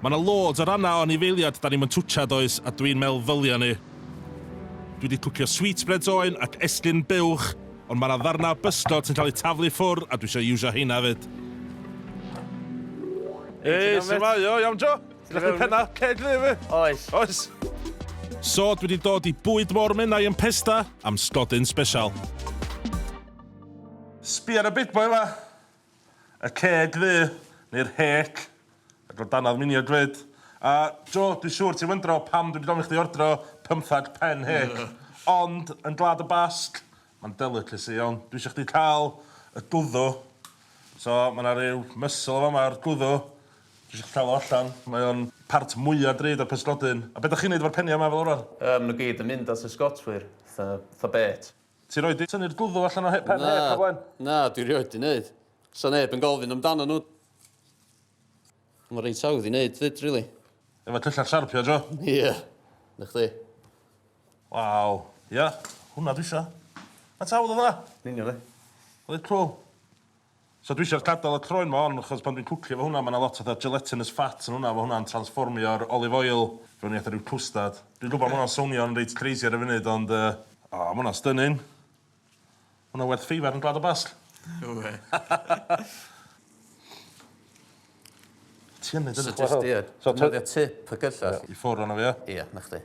Mae 'na loads o rannau o anifeiliad 'da ni'm yn twtsia does, a dwi'n meddwl ddylia ni. Dwi 'di twcio sweetbreads oen ac esgyrn buwch, ond mae 'na ddarnau o bysgod sy'n cael eu taflu i ffwrdd a dwi isio iwsio heina hefyd. Hei, su'mai? O, iawn Jo? Ti'n gallu penna ceg ddu i fi? Oes. Oes. So, dwi 'di dod i bwyd môr Menai yn Pesda am sgodyn sbesial. Sbia ar y big boy 'ma. Y ceg ddu, neu'r hêc, ac o danodd miniog 'fyd. A, Jo, dwi siŵr ti'n wyndro pam dwi 'di gofyn i chdi ordro pymthag pen hêc. Ond, yn Gwlad y Basg, mae'n delicacy iawn. Dwi isio chdi cael y gwddw. So, mae 'na ryw muscle yn fama, yr gwddw. Dwi isio chdi cael o allan. Mae o'n part mwya drud o'r pysgodyn. A be' 'dach chi'n neud efo'r peniau 'ma fel arfer? Yym, ma' nhw gyd yn mynd at y sgotwyr. Fatha, fatha bêt. Ti rioed 'di tynnu'r gwddw allan o he- pen Na, hêc o blaen? na, dwi rioed 'di neud. Sa neb yn gofyn amdano nhw. Mae reit hawdd i neud 'fyd, rili. Efo tyllau siarpio, Jo? Ie. Na chdi. Waw. Ia, hwnna dwi isio. Faint hawdd oedd hwnna? Yn union, ie. Reit cwl. So dwi isio gadal y croen ma on chos pan dwi'n cwcio fo hwnna ma na lot fatha gelatinous fat yn hwnna fo hwnna'n transfformio'r olive oil fewn i fatha ryw cwstad. Dwi'n gwbo ma hwnna'n sownio'n reit crazy ar y funud ond yy o ma hwnna'n stunning. Ma hwnna werth feifar yn Gwlad y Basg. No wê. Ti yn neud hynna? So jyst ia defnyddio tip y gyllell. I ffwr ono fo ia? Ia 'na chdi.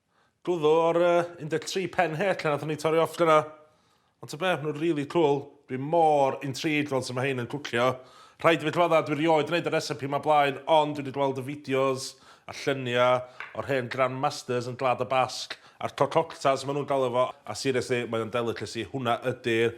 Glwyddo ar y 13 pen het lle nathon ni torri off dyna. Ond ta be, ma' nhw'n really cool. Dwi mor intrigued fel sut ma' hein yn cwcio. Rhaid i fi cyfadda, dwi rioed yn neud y recipe ma blaen, ond dwi di gweld y fideos a llunia o'r hen grand masters yn Gwlad y Basg, a'r cococtas ma nhw'n galw fo, a seriously mae o'n delicacy, hwnna ydi'r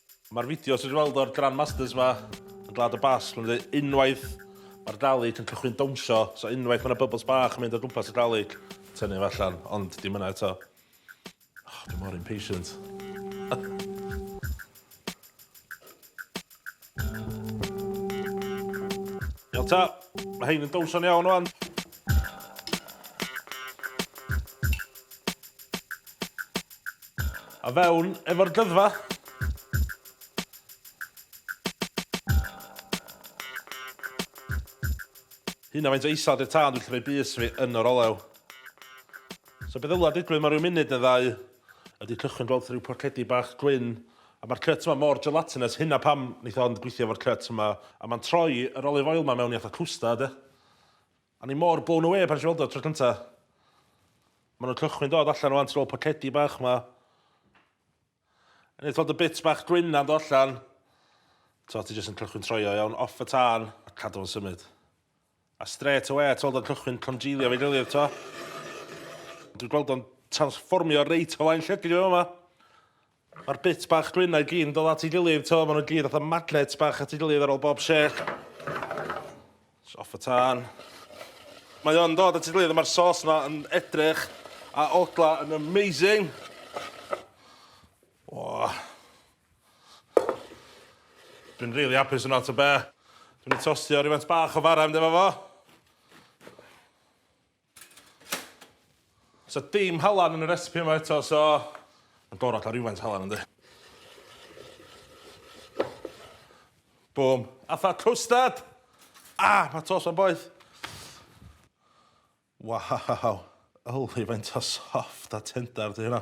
Mae'r fideo sydd wedi weld o'r Grandmasters yma yn Glad y Basg, mae'n dweud unwaith mae'r Dalek yn cychwyn dawnsio, so unwaith mae yna bubbles bach yn mynd o gwmpas y Dalek, tynnu fo allan, ond dim yna eto. Oh, dwi mor impatient. Iawn ta, mae hein yn dawnsio ni iawn o'n. A fewn efo'r dyddfa! Hynna faint o isal di'r tân dwi'n gallu rhoi bys fi yn yr olew. So be ddylai digwydd mewn rhyw munud neu ddau ydi cychwyn gweld rhyw porcedi bach gwyn a ma'r cut yma mor gelatinous hynna pam neith o ond gweithio efo'r cut yma a ma'n troi yr olive oil ma mewn i fatha cwstard ia. O'n i mor blown away pan nes i weld o tro cynta. Ma' nhw'n cychwyn dod allan ŵan, ti'n ôl pocedi bach ma. Yn ei thod y bits bach gwyn na'n do allan. T'o' ti jyst yn cychwyn troi o iawn, off y tân, a cadw fo'n symud. A straight away t'weld o'n cychwyn congealio efo'i gilydd t'o'? Dwi'n gweld o'n transfformio reit o flaen llygid fi fama. Ma'r bits bach gwyn-na i gyd yn dod at ei gilydd, t'o', ma' nw gyd fatha magnets bach at ei gilydd ar ôl bob shake. Jys off y tân. Mae o'n dod at ei gilydd a ma'r sauce 'na yn edrych a odla yn amazing. O! Dwi'n rili apus yno, ta be'. Dwi myn' i tostio rywfaint bach o fara i fynd efo fo. Sa dim halan yn y recipe yma eto so ma'n gorod ca'l rywfaint o halan yndi? Bŵm. Atha cwstard! Ah! Ma' tost 'ma'n boeth. Waw! Yli faint o soft a tendar 'di hynna.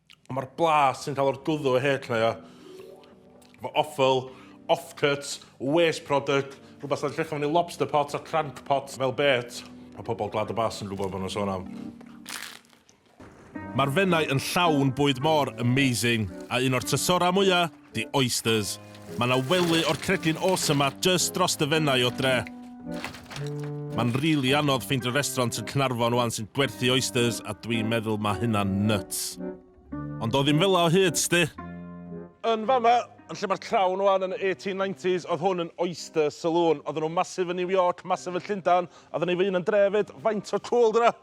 Ond mae'r blas sy'n cael o'r gwddw o hêt lleia, fo offal, offcuts, waste product, rhywbeth sy'n llechaf fyny lobster pots a crank pots fel bêt, mae pobl Gwlad y Basg yn gwybod beth mae'n sôn am. Mae'r Fenai yn llawn bwyd mor amazing, a un o'r trysorau mwya! The oysters. Mae 'na wely o'r cregyn awesome 'ma jyst dros dy fennau o dre. Mae'n rili anodd ffeindio restaurant yn Caernarfon 'wan sy'n gwerthu oysters a dwi'n meddwl mae hynna'n nyts. Ond o ddim fela o hyd, sdi! Yn fama, yn lle mae'r Crown 'wan, yn y 1890s, oedd hwn yn oyster saloon. Oedden nhw'n massive yn New York, massive yn Llundain, a oedden ni fy hun yn dre 'fyd. Faint o cŵl 'di hwnna?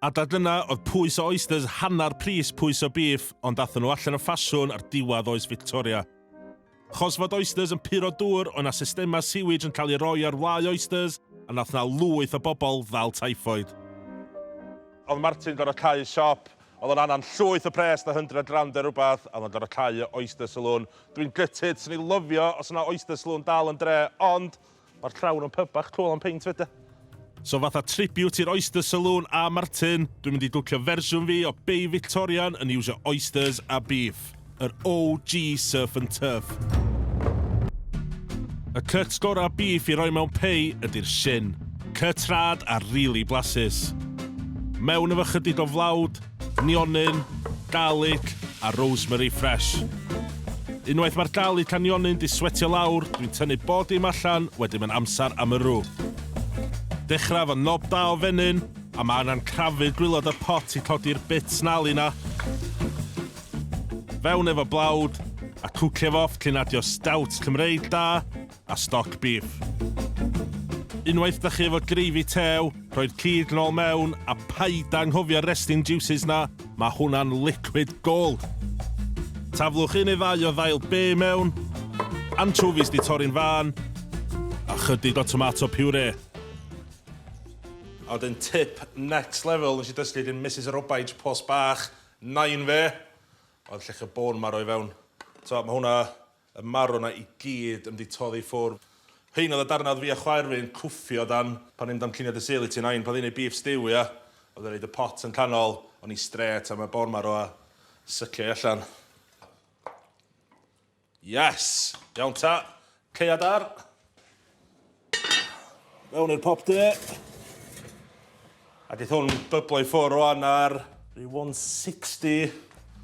A da dyna oedd pwys o oysters hannar pris pwys o bîff ond athon nhw allan o ffasiwn ar diwadd oes Victoria. Chos fod oysters yn puro dŵr oedd na systema sewage yn cael ei roi ar wlâu oysters a nath na lwyth o bobl ddal typhoid. Oedd Martin gorfod cau siop, oedd o'n anan llwyth o pres da hundred rand neu rwbath a oedd o'n gorfod cau y oyster saloon. Dwi'n gutted, swn i lyfio os oedd na oyster saloon dal yn dre ond Ma'r llawr yn pyb bach cwl am peint fyd e. So fatha tribute i'r Oyster Saloon a Martin, dwi'n mynd i dwcio fersiwn fi o Bay Victorian yn iwsio oysters a beef. Yr OG surf and turf. Y cuts gorau beef i roi mewn pei ydy'r shin. Cuts rad a rili blasus. Mewn efo chydig o flawd, nionyn, garlic a rosemary fresh. Unwaith mae'r garlic a nionyn 'di swetio lawr, dwi'n tynnu bob dim allan, wedyn mae'n amser am y rw. Dechrau efo nob da o fenyn, a mae angen crafu'r gwilod o'r pot i codi'r bit snarly 'na. Fewn efo blawd, a cwcio fo off cyn adio stout Cymreig da. a stoc bîff. Unwaith da chi efo gravy tew, rhoi'r cig nôl mewn a paid anghofio'r resting juices na, mae hwnna'n liquid gold. Taflwch un neu ddau o ddail be mewn, anchovies di torri'n fân, a chydig o tomato puree. A wedyn tip next level nes i dysgu gin Misus Robaij Post Bach, Nain fe, oedd llechi o bôn marw i fewn. T'o' ma' hwnna Y marw 'na i gyd yn 'di toddi ffwr. Rhein oedd y darnau oedd fi a chwaer fi'n cwffio dan pan ni'n damcaniad dy Sul i ti Nain pan oedd hi'n ei beef stew ia? Oedd e'n roid y pot yn canol, o'n i strêt am y bôn marw a sycio i allan. Yes! Iawn ta! Caead ar! Mewn i'r popte. A geith hwn byblo i ffwr o'n ar rhyw 160.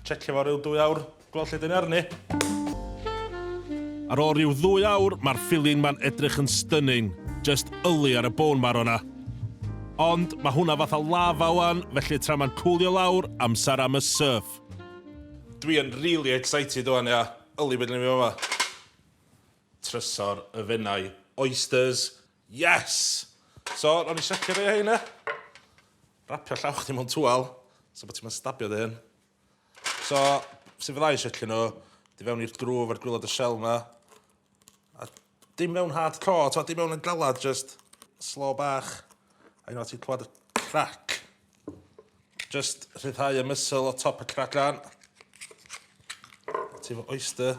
Checio fo rhyw dwy awr, gweld lle dyn ni arni. Ar ôl rhyw ddwy awr, mae'r filin ma'n edrych yn stunning. Just yli ar y bone marrow 'na. Ond mae hwnna fatha lava wan, felly tra mae'n cwlio lawr, amser am y surf. Dwi yn really excited wan, ia. Yli be' 'dan ni'n mynd i fama. Trysor y fenai. Oysters! Yes! So, ro'n i siapio rei o heina. Rapio llaw chdi mewn twal, so bod ti'n mynd stabio dy hyn. So, sut fydda i siapio nhw? Di fewn i'r grŵf ar gwylod y shell na. A dim mewn hard core, to, dim mewn yn galad, just slow bach. A unwaith ti'n clywed y crac, just rhyddhau y mysl o top y cracan. Ti'n fy oyster.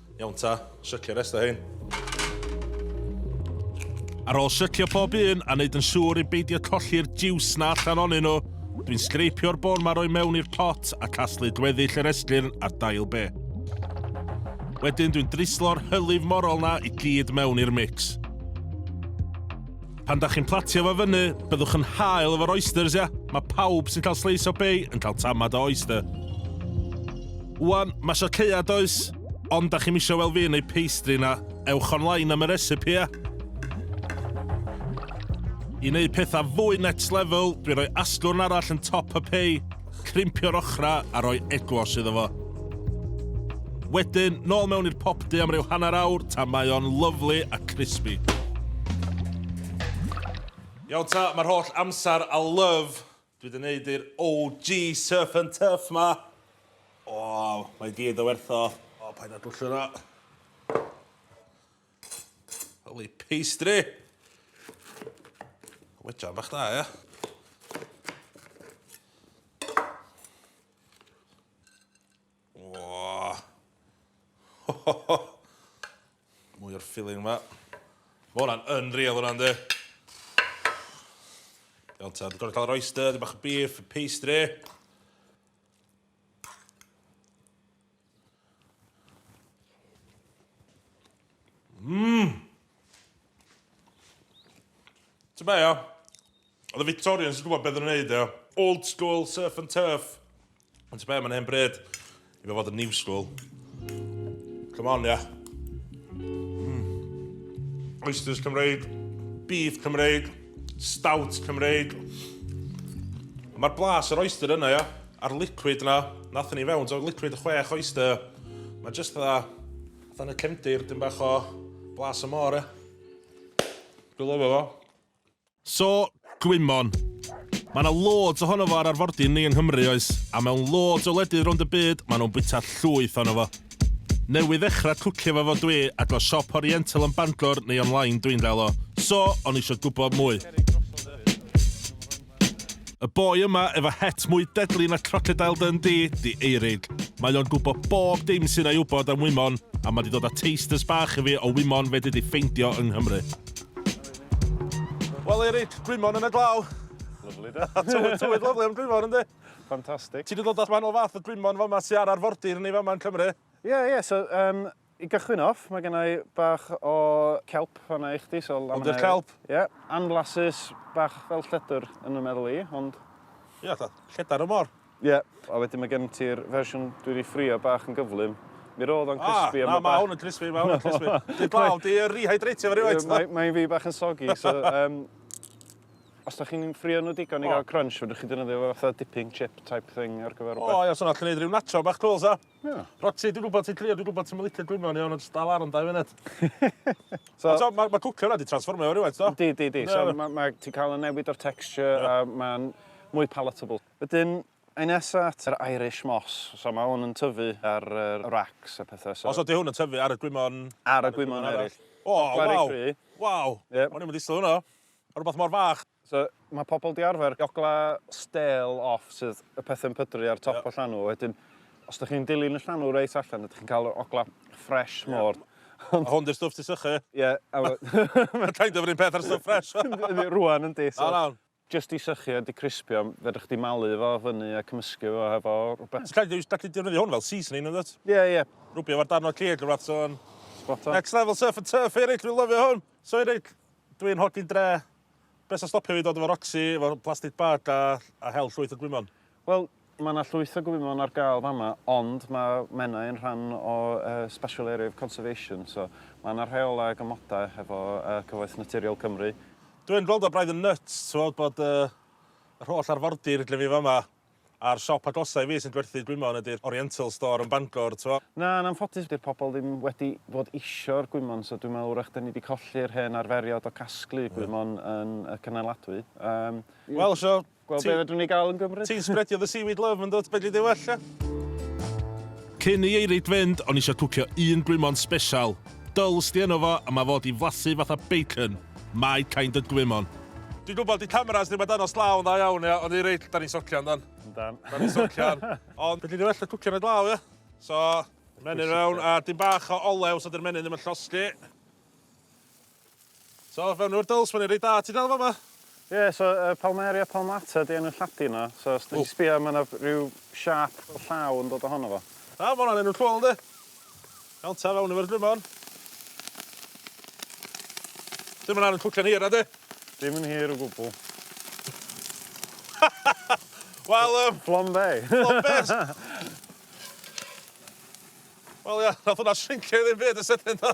Iawn ta, sycio'r rest o hein. Ar ôl sycio pob un a wneud yn siŵr i beidio colli'r jiws na allan onyn nhw, dwi'n sgreipio'r bôn ma roi mewn i'r pot a casglu gweddill yr esgyrn a'r dail be. Wedyn dwi'n drislo'r hylif morol na i gyd mewn i'r mix. Pan da chi'n platio fo fyny, byddwch yn hael efo'r oysters, ia? Mae pawb sy'n cael sleis o bay yn cael tamad o oyster. Wan, mae sio lleia does? Ond da chi'n misio wel fi yn ei pastry na, ewch online am y recipe, ia? I wneud pethau fwy next level, dwi'n rhoi asgwrn arall yn top y pay. Crimpio'r ochrau a rhoi eglos iddo fo. Wedyn, nôl mewn i'r popdy am ryw hanner awr tan mae o'n lyfli a crispy. Iawn ta, mae'r holl amser a love dwi wedi neud i'r OG Surf and Turf 'ma, o, mae i gyd o werth o. O, paid â dwllio 'na. Holy pastry! Wedra bach da, ia? Mwy o'r filling yma. Mae hwnna'n unreal hwnna'n di. Iawn ta, dwi'n gorau cael yr oyster, dwi'n bach o beef, pastry. Mmm! Ti'n be, ia? Oedd y Victorians yn gwybod beth yn wneud, ia? Old school, surf and turf. Ond ti'n be, mae'n hen bryd i fe fod yn new school. Come on, ia. Mm. Oysters Cymreig, beef Cymreig, stout Cymreig. Mae'r blas yr oyster yna, ia? A'r liquid na, nathon ni fewn, so liquid chwech oyster. Mae just dda, dda yn y cefndir, dim bach o blas y môr e. Dwi'n lyfo fo. So, gwymon. Mae yna loads ohono fo ar arfordir ni yng Nghymru, oes? A mewn loads o wledydd rownd y byd, maen nhw'n bwyta llwyth ohono fo. Newydd ddechrau cwcio fo fo dwi, a dwa siop Oriental yn Bangor neu online dwi'n gael o. So, o'n eisiau gwybod mwy. Y boi yma efo het mwy deadly na Crocodile Dundee 'di Eirig. Mae o'n gwbo bob dim sy'n a'i wbod am wymon, a ma' 'di dod â tasters bach i fi o wymon fedri di ffeindio yng Nghymru. Wel Eirig, gwymon yn y glaw. Lyfli de? Tywydd, tywydd lyfli am gwymon yndi? Fantastic. Ti 'di dod â rhan o fath o gwymon fama sy' ar arfordir ni fama yn Cymru? Ie, ie, so yym I gychwyn off, mae gennau bach o kelp fanna i chdi, so... Hwn 'di'r kelp? Ie, anflasus, bach fel lledr yn fy meddwl i, ond... Ie, fatha lledar y môr. Ie, a wedyn mae gen ti'r fersiwn dwi 'di ffrio bach yn gyflym. Mi roedd o'n crispy am y bach. O, na, mae hwn yn crispy, mae hwn yn crispy. Dwi'n blaw, di rehydratio fo rywfaint. Ie, mae'n fi bach yn soggy, so... Os da chi'n ffrio nhw digon i gael crunch, fedrwch chi ddefnyddio fo fatha dipping chip type thing ar gyfer rhywbeth. O, ia, so na, allwn neud rhyw nacho bach cwl, sa? Na. Roti, dwi'n gwybod ti'n crio, dwi'n gwybod ti'n licio gwyno yn iawn, ond jyst dal ar am dau funud. so, so, mae ma cwcio yna di transformio o'r rhywbeth, do? Di, di, di. So, ma, ma, ti'n cael y newid o'r texture yeah. a mae'n mwy palatable. Wedyn, Ein nesa at yr Irish Moss. So mae hwn yn tyfu ar yr racks a pethau. So... Os ydy hwn yn tyfu ar y gwymon... Ar y gwymon eraill. O, waw! Waw! O'n i'n mynd i sylw hwnna. Rhywbeth mor fach. So, mae pobl 'di arfer jogla stêl off, sydd y peth yn pydru ar top y llanw, wedyn os dych chi'n dilyn y llanw reit allan, ydych chi'n cael yr ogla ffresh mor. Ond... A hwn 'di'r stwff ti'n sychu. Ie. Mae'n kind of yr un peth â'r stwff ffresh. Yndi, rwan yndi. O, nawn. Jyst i sychu a di crispio, fedrwch chdi malu fo fyny a cymysgu fo hefo rhywbeth. Ti'n gallu gallu defnyddio hwn fel seasoning yn dwyt? Ie, ie. Rwbio fo darn o cig neu rywbeth, so... Spot on. Next level surf and turf, Eric, dwi'n lyfio hwn! So Eric, dwi'n hogyn dre, Be' sy'n stopio fi dod efo Roxy, efo plastic bag a a hel llwyth o gwymon? Wel, ma' 'na llwyth o gwymon ar gael fama, ond ma' Menai yn rhan o yy Special Area of Conservation, so ma' 'na rheolau ag amodau hefo yy Cyfoeth Naturiol Cymru. Dw i'n gweld o braidd yn nyts, t'mod, bod yy yr holl arfordir lle fi fama. A'r siop agosa i fi sy'n gwerthu gwymon ydi'r Oriental Store yn Bangor, t'mo'. Na, yn anffodus 'di'r pobl ddim wedi bod isio'r gwymon, so dwi'n meddwl 'w'rach 'dyn ni 'di colli'r hen arferiod o casglu gwymon yn y Cynneladwy. Yym, i... Wel, so, ti... Gweld be' fedrwn ni ga'l yn Gymru. Ti'n sbredio the seaweed love, yndwt? Fedri di well, ia? Cyn i Eirid fynd, o'n i isio cwcio un gwymon sbesial. Dull sti yno fo a mae fo di flasu fatha bacon, my kind of gwymon. Dwi'n gwybod 'di cameras ddim yn dangos glaw yn dda iawn ia, ond i reit 'da ni'n socian do'n? Yndan. 'Da ni'n socian. Ond fedri di well na cwcio yn y glaw ia? So, menyn fewn a dim bach o olew so 'di'r menyn ddim yn llosgi. So fewn efo'r dwls, mae'n un reit dda ti dal fama. Ie, so yy Palmaria palmata 'di enw Lladin o, so os 'da ti'n sbïo ma' 'na ryw siâp fel llaw yn dod ohono fo. Da, ma' hwnna'n enw cwl yndi? Iawn ta, fewn efo'r grymon. Dim yn angen cwcan hir nadi? Dim yn hir o gwbwl. Wel yym... Flombe! Flombe! Wel ia, nath hwnna shrincio i ddim byd yn sydyn do?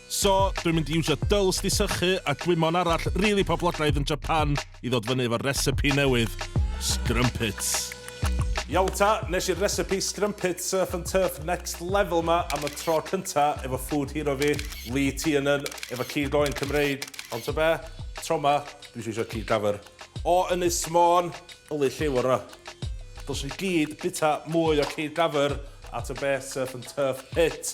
So, dwi'n mynd i iwsio dwls di sychu a gwymon arall rili poblogaidd yn Japan i ddod fyny efo'r recipe newydd, scrumpets. Iawn ta, nes i'r recipe scrumpets surf and turf next level ma am y tro cynta efo food hero fi, Lee Tiernan, efo cig oen Cymreig, ond ta be, tro ma, dwi isio isio cig dafyr o Ynys Môn, yli lliw o ra. Dylswn i gyd bita mwy o cig dafyr a ta be, surf and turf hit.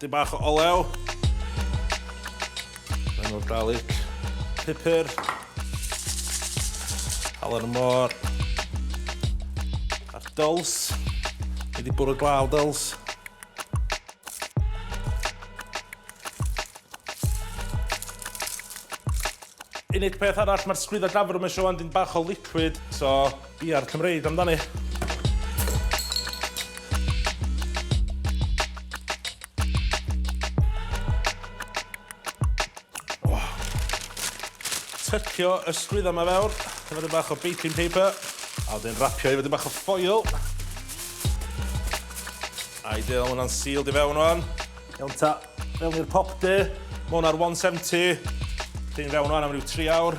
Dyn bach o olew. Rhaid o'r garlic. Pupur. Halen y môr. A'r dyls. Ni di bwrw glaw dyls. unig peth arall, mae'r sgwydda gafr yma eisiau wan dyn bach o liquid, so Bia'r Cymreig amdani. tycio ysgwydd yma fewr, efo dyn bach o baking paper, a wedyn rapio efo dyn bach o ffoil. Ideal, mae hwnna'n sealed i fewn o'n. Iawn ta, mewn i'r pop de, mae hwnna'r 170. Dyn fewn o'n am ryw 3 awr.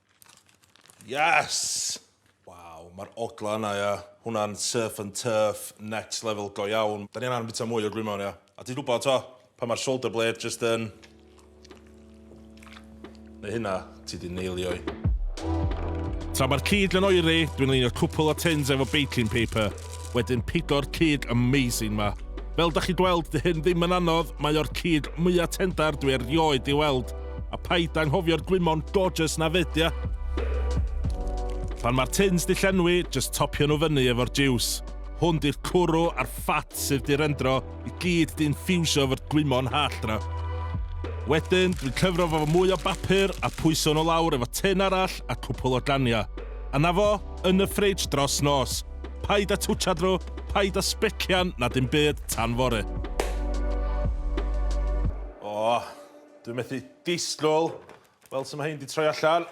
Yes! Waw, mae'r ogla yna, ia. Hwnna'n surf and turf, next level go iawn. Da ni angen bita mwy o gwymon, ia. A ti'n gwybod, to, pan mae'r shoulder blade just yn... Neu hynna, ti di neilio i. Tra mae'r cig yn oeri, dwi'n leinio cwpl o tins efo baking paper. Wedyn pigo'r cig amazing ma. Fel dach chi'n gweld, dy hyn ddim yn anodd, mae o'r cig mwya tendar dwi erioed di weld. A paid anghofio'r gwymon gorgeous na fyd ia? Pan mae'r tins di llenwi, jyst topio nhw fyny efo'r jiws. Hwn di'r cwrw a'r ffat sydd di rendro i gyd di infiwsio efo'r gwymon hallt na. Wedyn, dwi'n cyfro fo fo mwy o bapur a pwyso nhw lawr efo tin arall a cwpwl o ganiau. A 'na fo, yn y ffridge dros nos. Paid â twtshad nhw, paid â sbecian na dim byd tan fory. O, dwi methu disgwyl weld sut mae hein 'di troi allan.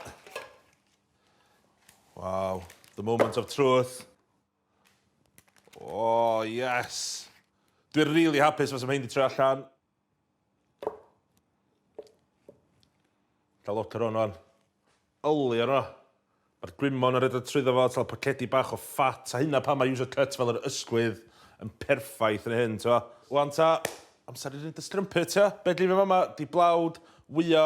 Waw, the moment of truth. O, yes. Dwi'n rili hapus fel sut mae hein 'di troi allan. Cael lot ar hwn o'n. Yli ar hwnna. Mae'r gwymon yn rhedeg trwyddo fo, tal pacedi bach o ffat, a hynna pan mae user cut fel yr ysgwydd yn perffaith yn hyn, t'o'. Wan ta, amser i neud y strumpet, t'o'? Be' dwi efo fama 'di blawd wya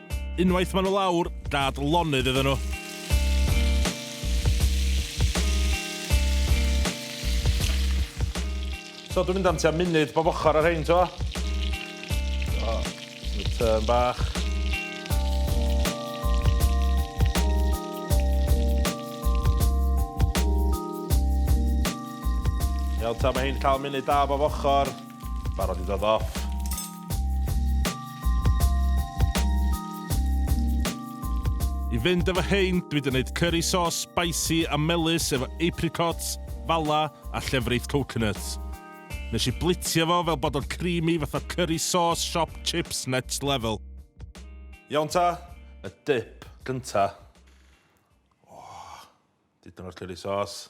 Unwaith maen nhw lawr, dad lonydd iddyn nhw. So dwi'n mynd am tua munud bob ochr ar rhain, t'mo'? O, y tŷ'n bach. Iawn ta, mae hyn cael munud da bob ochr. Barod i ddod off. I fynd efo hein, dwi wedi gwneud curry sauce spicy a melus efo apricots, fala a llefrith coconut. Nes i blitio fo fel bod o'n creamy fatha curry sauce shop chips next level. Iawn ta, y dip gynta. Oh, dipyn o'r curry sauce.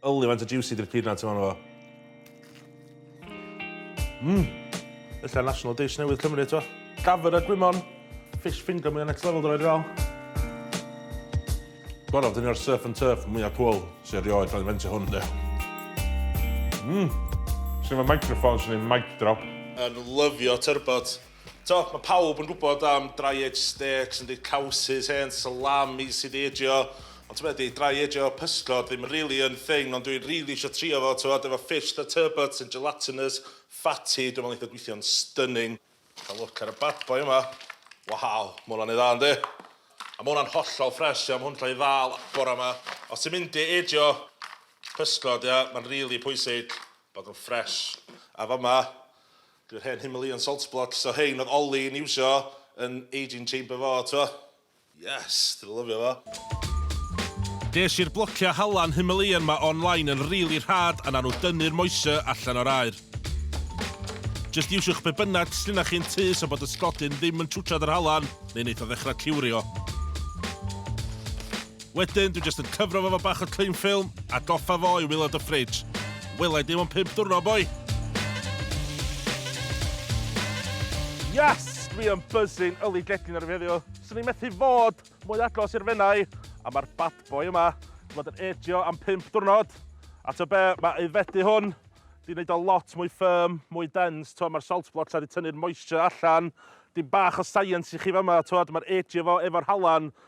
Yli faint o jiwsi di'r peanut yma ynddo fo. Mm! Ella national dish newydd Cymru eto. Gafr a gwymon. Fish finger mwya next level dwi rhaid i Gorau, dyn ni'r surf and turf mwya cwl sy'n rioed cael ei fentio hwn de. Mmm! Sy'n fy microphone sy'n ei mic drop. Yn lyfio turbot. T'wod, mae pawb yn gwybod am dry aged steaks yn deud cowsys, hen salami sy 'di eijio, ond t'wod be' 'di, dry aged pysgod ddim rili yn thing, ond dwi rili isio trio fo, t'wod, efo fish fatha turbot sy'n gelatinous, fatty, dwi'n me'wl neith o gweithio'n stunning. Ca'l look ar y bad boy yma. Waw, ma' hwnna'n neud dda yndi? A ma' hwnna'n hollol ffresh ia, ma' hwn 'di ca'l 'i ddal bora 'ma. Os ti'n mynd i eijio pysgod ia, ma'n rili pwysig bod o'n ffresh. A fa'ma, Dyw'r hen Himalayan salt blocks o rhein oedd Ollie yn iwsio yn aging chamber fo, t'mo'? Yes! Dwi 'di lyfio fo. Des i'r blociau halan Himalayan 'ma online yn rili rhad a nawn nhw dynnu'r moisture allan o'r aer. Jyst iwsiwch be bynnag sgynnoch chi yn tŷ so bod y sglodyn ddim yn twtsiad yr halan neu neith o ddechrau ciwrio. Wedyn, dwi jyst yn cyfro fo fo bach o cling film a goffa fo i wylod y fridge. Wela i dim ond pimp dwrno, boi! Yes! Dwi yn buzzing yli gledyn ar y feddio. Swn i'n methu fod mwy agos i'r fenau, a mae'r bad boy yma wedi bod yn edio am pimp dwrnod. A to be, mae aeddfedu hwn di wneud o lot mwy firm, mwy dense, to mae'r salt blocks wedi tynnu'r moisture allan. Dim bach o science i chi fama, to mae'r edio fo efo'r halan,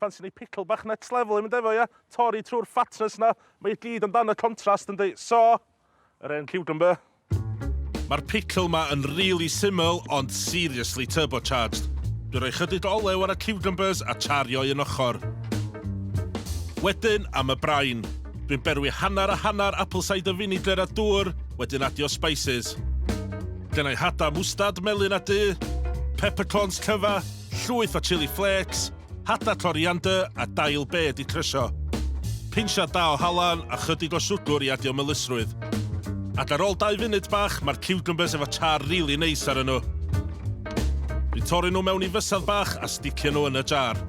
Fansi neu pickle bach next level i mynd efo ia? Torri trwy'r fatness na. Mae i gyd amdan y contrast yndi? So, yr hen cucumber. Ma'r pickle ma yn rili syml ond seriously turbocharged. Dwi roi chydig o olew ar y cucumbers a chario un ochr. Wedyn am y brain. Dwi'n berwi hanner a hanner apple cider vinegar a dŵr, wedyn adio spices. Gennai hada mwstad melyn a du, peppercorns cyfa, Llwyth o chili flakes, hada coriander a dail bed i crysio. Pinsiad da o halan a chydig o siwgwr i adio melysrwydd. Ac ar ôl dau funud bach mae'r ciwcymbyrs efo char rili neis arnyn nhw. Dwi'n torri nhw mewn i fysedd bach a sticio nhw yn y jar.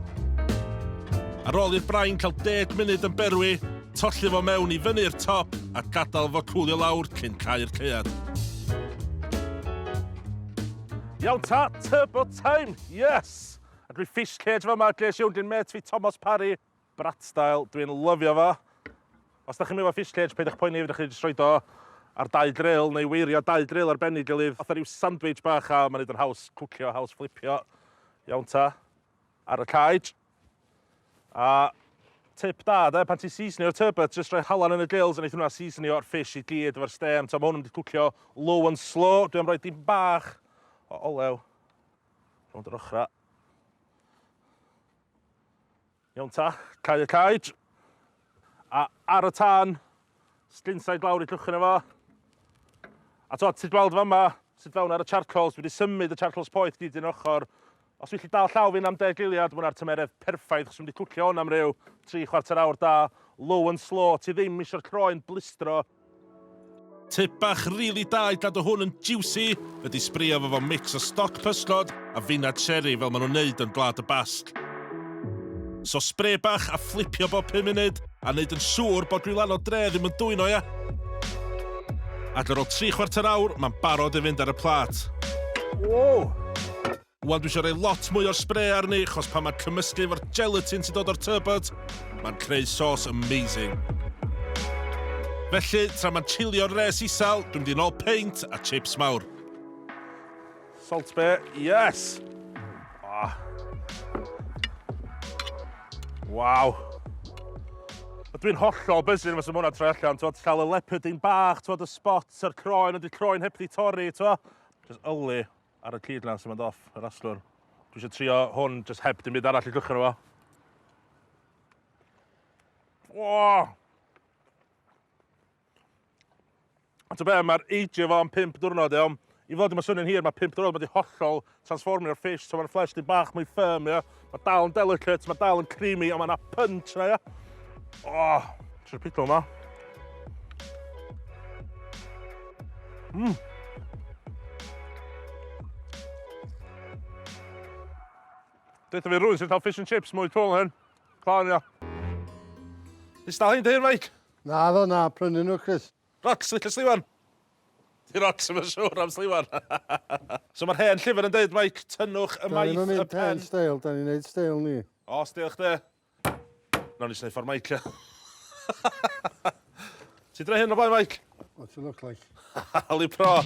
Ar ôl i'r brain cael deg munud yn berwi, tolli fo mewn i fyny i'r top a gadael fo cwlio lawr cyn cau'r caead. Iawn ta, tŷ bwt Time! Yes! A dwi fish cage fama, ges i 'wn gin mêt fi Tomos Parry. Brat style, dwi'n lyfio fo. Os da chi'm efo fish cage, peidiwch poeni, fedrwch chi jyst roid o ar dau dril, neu weirio dau dril ar ben ei gilydd, fatha ryw sandwich bach, a ma'n neud o'n haws cwcio, haws fflipio. Iawn ta. Ar y cage. A tip da 'de, pan ti'n seasonio'r turbot, jyst rhoi halan yn y gills a neith hwnna seasonio'r fish i gyd efo'r stêm. T'o' ma' hwn yn mynd i cwcio low and slow. Dwi am roi dipyn bach o olew rownd yr ochra'. Iawn ta, cau y caej. A ar y tân, sglinsa i glawr i llwch yno fo. A t'o' ti'n gweld fama sut fewn ar y charcoals, dwi wedi symud y charcoals poeth gyd un ochor, Os dwi gallu dal llaw fi'n am deg eiliad, ma' hwnna'r tymeredd perffaith achos dwi'n mynd i cwcio hwn am ryw tri chwarter awr da, low and slow, ti ddim isio'r croen blistro. Tip bach rili da i gadw hwn yn jiwsi ydi sbrio fo fo mix o stoc pysgod a feinad sieri fel ma' nhw'n neud yn Gwlad y Basg. So spray bach a fflipio bob pum munud. A wneud yn siŵr bod gwylanod dre ddim yn dwyno, ia? Ac ar ôl tri chwarter awr, mae'n barod i fynd ar y plat. Wow! Wan dwi eisiau rhoi lot mwy o'r spray arni, chos pan mae'n cymysgu efo'r gelatin sy'n dod o'r turbot, mae'n creu sauce amazing. Felly, tra mae'n chilio'r res isel, dwi'n mynd i'n ôl peint a chips mawr. Salt be, yes! Ah. Waw. Dwi'n hollol bysyn fes y mwna troi allan, twod, llaw y leopard yn bach, twod, y spot a'r croen, ond y croen heb di torri, twod. Just yli ar y cyd lan sy'n mynd off, yr aslwr. Dwi eisiau trio hwn, just heb dim byd arall i gychwyn o fo. Oh! A ta be, mae'r ageio fo am 5 diwrnod, iawn? I fod i mae'n swnio'n hir, mae 5 diwrnod wedi hollol transformio'r fish, so mae'n flesh di bach mwy firm, ia? Mae dal yn delicate, mae dal yn creamy, ond mae yna punch na, ia? Oh, ti'n pido yma. Mmm. Dweud fi rwy'n sy'n cael fish and chips mwy twl hyn. Ffawn, ia. Is dal hyn dy hyn, mate? Naddo, na, prynnu nhw Chris. Rocs, licio sliwan! Di Rocs ddim yn siwr am sliwan. So mae'r hen llyfr yn deud Mike, tynnwch y maith y pen. Da ni'n mynd mynd hen steil, da ni'n neud steil ni. O, steil chdi. Nawn ni jyst neud ffordd Mike. Ti dre hyn o blaen Mike? What's it look like? Hali pro.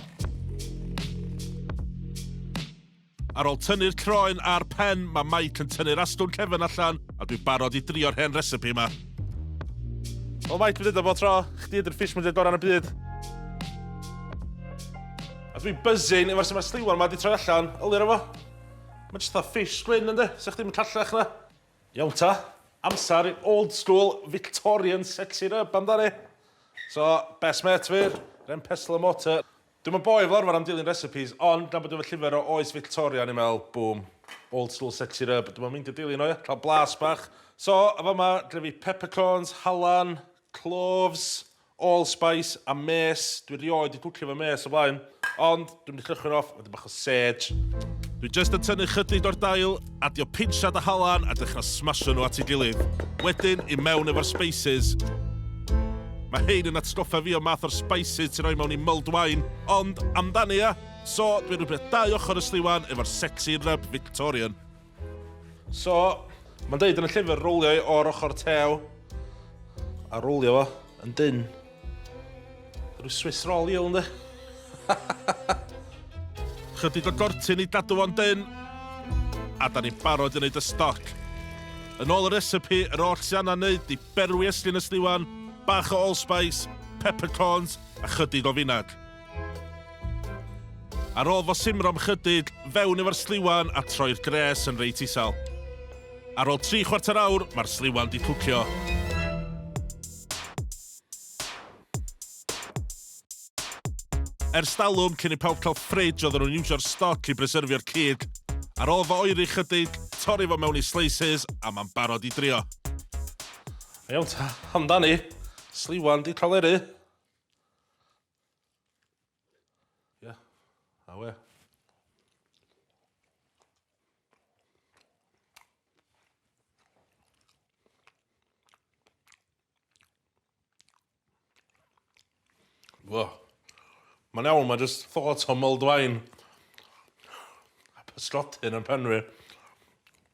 Ar ôl tynnu'r croen a'r pen, mae Mike yn tynnu'r astwn cefn allan, a dwi'n barod i drio'r hen recipe yma. O Mike, dwi'n dweud o bod tro, chdi ydy'r fish mwyaf gorau yn y byd. A dwi'n buzzing efo'r sy'n mae'r sliwan yma wedi troi allan, ylir efo. Mae jyst fatha fish gwyn ynddi, sa'ch ddim yn callach na. Iawn ta, amser i old school Victorian sexy rub amdani. So, best mate fi, ren pestle and mortar. Dwi'm yn boi fel arfer am dilyn recipes, ond nabod efo llyfr o oes Fictoria o'n i'n meddwl, boom, old school set it up, dwi'm yn meindio dilyn o ia, cael blas bach. So, yn fama, gyda fi peppercorns, halan, cloves, allspice a mês, dwi rioed 'di cwcio efo mês o blaen, ond dwi'm 'di llychwyn off, wedyn bach Serge, Dwi jyst yn tynnu chydig o'r dail, adio pinsiad a halan a dechra smasho nhw at ei gilydd. Wedyn, i mewn efo'r spices. Mae hein yn atgoffa fi o math o'r spices ti'n rhoi mewn i mulled wine, ond amdani ia? So, dwi'n rhybio dau ochr y sliwan efo'r sexy rub Victorian. So, mae'n dweud yn y llyfr rowlio o'r ochr tew a rowlio fo yn dyn. Rwy'n Swiss roll i o'n Chydig o gortyn i gadw fo'n dyn. A da ni'n barod i wneud y stoc. Yn ôl y recipe, yr oll sy'n anna wneud di berwi eslin y sliwan, bach o allspice, peppercorns a chydig o finag. Ar ôl fo simro am chydig, fewn efo'r sliwan a troi'r gres yn reit isel. Ar ôl tri chwarter awr, mae'r sliwan di cwcio. Ers dalwm cyn i pawb cael fridge oedden nhw'n iwsio'r stoc i bryserfio'r cig. Ar ôl fo oeri chydig, torri fo mewn i slices a mae'n barod i drio. Iawn ta, amdani. Sliwan di cael eri. Ie, awe. Wow. Mae'n iawn, mae just thought o mulled wine. A pysgodyn yn pen fi.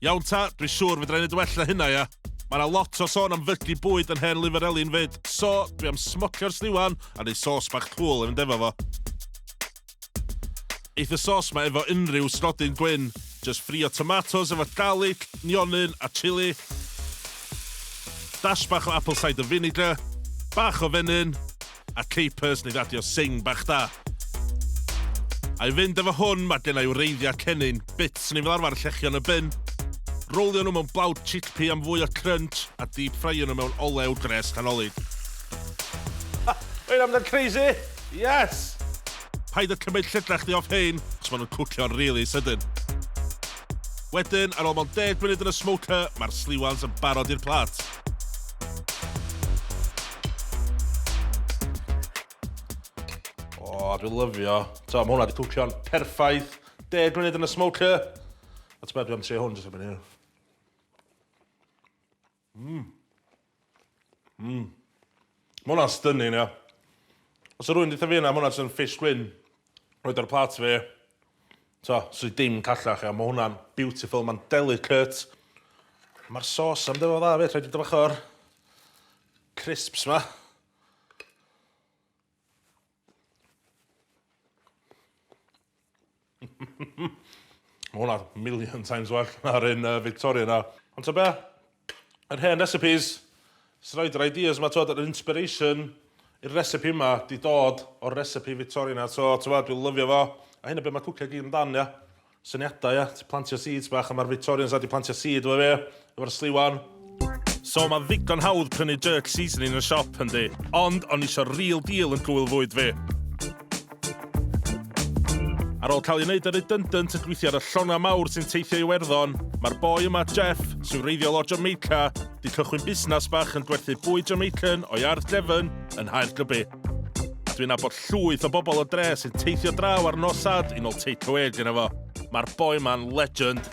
Iawn ta, dwi siŵr fedra i neud well na hynna ia. Mae na lot o sôn am fygu bwyd yn hen lyfr Elin fyd, so dwi am smocio'r sliwan a neud sos bach cŵl i fynd efo fo. Eith y sos ma efo unrhyw stodyn gwyn, jyst ffrio tomatos efo garlic, nionyn a chili, dash bach o apple cider vinegar, bach o fenyn, a Capers neu radio sing bach da. I fynd efo hwn, mae gen i wreiddiau cennin, bits neu fel arfer llechion y bin, rowlio nhw mewn blawd chickpea am fwy o crunch a deep ffraio nhw mewn olew gres canolid. Mae'n amdano crazy! Yes! Paid â cymryd llygrach chdi off hein, achos maen nhw'n cwcio'n rili sydyn. Wedyn, ar ôl mond deg munud yn y smoker, mae'r sliwans yn barod i'r plat. O, oh, dwi'n lyfio. Ta, mae hwnna wedi cwcio'n perffaith. Deg munud yn y smoker. A ti'n meddwl, dwi'n am trio hwn, jyst am hynny. Mmm. Mmm. Mae hwnna'n stunning, ia. Os oedd rhywun wedi deutha fi hynna, mae hwnna jyst yn fish gwyn, roid ar plate fi, t'o', 'swn i dim callach, ia. Mae hwnna'n beautiful, mae'n delicate. Mae'r sauce am ddim yn dda 'fyd, rhaid fi dod bach o'r crisps 'ma. Mae hwnna million times well na'r un uh, Victoria na. Ond ta be? Yr hen recipes, sy'n rhaid yr ideas yma, twod, yr inspiration i'r recipe yma di dod o'r recipe Victoria na. So, twod, dwi'n lyfio fo. A hyn y beth mae cwcio gyd amdan, ia. Syniadau ia? Ti plantio seeds bach a ma'r Victorians dda di plantio seed efo fe, efo'r sliwan. So ma ddigon hawdd prynu jerk seasoning yn y siop yndi? Ond o'n isio real deal yn gŵyl fwyd fi. Ar ôl cael ei wneud yn redundant yn gweithio ar y llongau mawr sy'n teithio i Iwerddon, mae'r boi yma, Jeff, sy'n wreiddiol o Jamaica, 'di cychwyn busnas bach yn gwerthu bwyd Jamaican o'i ardd gefn yn Nghaergybi. Dwi'n abod llwyth o bobl o dre sy'n teithio draw ar nos sad i nol takeaway gyda fo. Mae'r boi ma'n legend.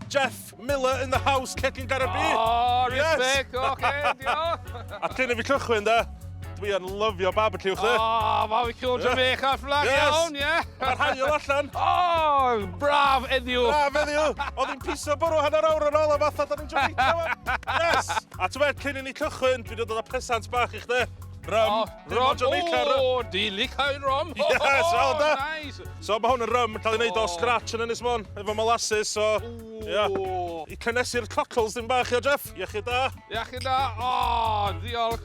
Jeff Miller in the house, cegin Garabi. Oh, respect, yes. oce, okay, diolch. A cyn i fi cychwyn da, dwi yn lyfio barbecue chdi. O, oh, barbecue Jamaica flag yes. iawn, ie. Yeah. Mae'r hael allan. O, oh, braf eddiw. Braf eddiw. Oedd hi'n piso bwrw hanner awr yn ôl a fatha da ni'n Jamaica. Yes. A ti'n meddwl, cyn i ni cychwyn, dwi'n dod o presant bach i chdi. Rum. Oh, rum. O, oh, di licau rum. Yes, oh, well da. Nice. So mae hwn yn rum, cael ei wneud oh. o scratch yn Ynys Môn, efo molasses, so... Ooh. Yeah. I cynnesu'r cockles dim bach, ia, Jeff? Iechyd da. Iechyd da. O, oh, ddiolch.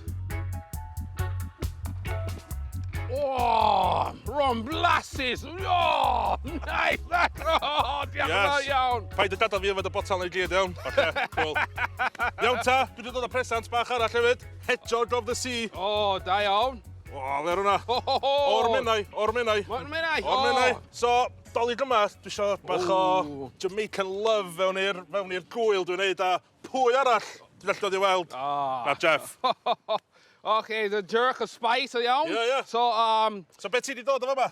O, oh, rum blasses. O, oh, nice. Oh, diolch yn yes. iawn. Paid y gadael fi yfed y botal neu gyd, iawn. Okay, cool. iawn ta, dwi wedi dod â presant bach arall hefyd. Hedgehog of the sea. O, oh, da iawn. O, oh, fe rwna. O'r menau, o'r menau. O'r menau. O'r menau. So, dolyg yma, dwi eisiau bach o Jamaican love fewn i'r fewn i'r gwyl dwi'n neud, a pwy arall dwi'n alltod i weld? Ah. Na, Jeff. OK, the jerk of spice, o iawn. Ie, ie. So, um... So, beth ti wedi dod o fama?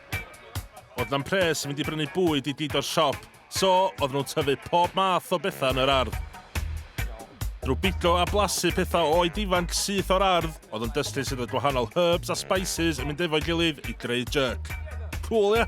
Oedd 'na'm pres i fynd i brynu bwyd i Dido'r siop, so oedden nhw'n tyfu pob math o bethau yn yr ardd. Drwy bigo a blasu pethau oed ifanc syth o'r ardd, oedd yn dystus sydd oedd gwahanol herbs a spices yn mynd efo'i gilydd i greu jerk. Cŵl, ia?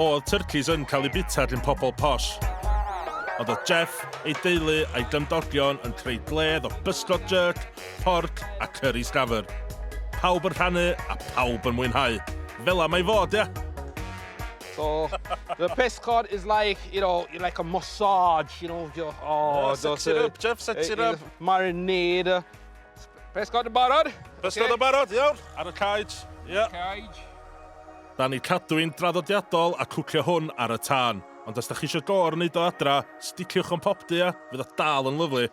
O'dd tyrcis yn cael eu bita gin pobl posh. Ond o'dd Jeff, ei deulu a'i gymdogion yn creu gwledd o bysgod jerk, porc a curry sgafr. Pawb yn rhannu a pawb yn mwynhau. Fela mae fod, ia? So, the pysgod is like, you know, like a massage, you know, oh, just... Set it up, Jeff, set it up! Marinade. Pysgod yn barod? Pysgod yn barod, iawn. Ar y caej. Ie. Caej. Da ni cadw i'n draddodiadol a cwcio hwn ar y tân. Ond os da chi eisiau gor yn neud o adra, sticiwch o'n popdy a fydd o dal yn lyflu.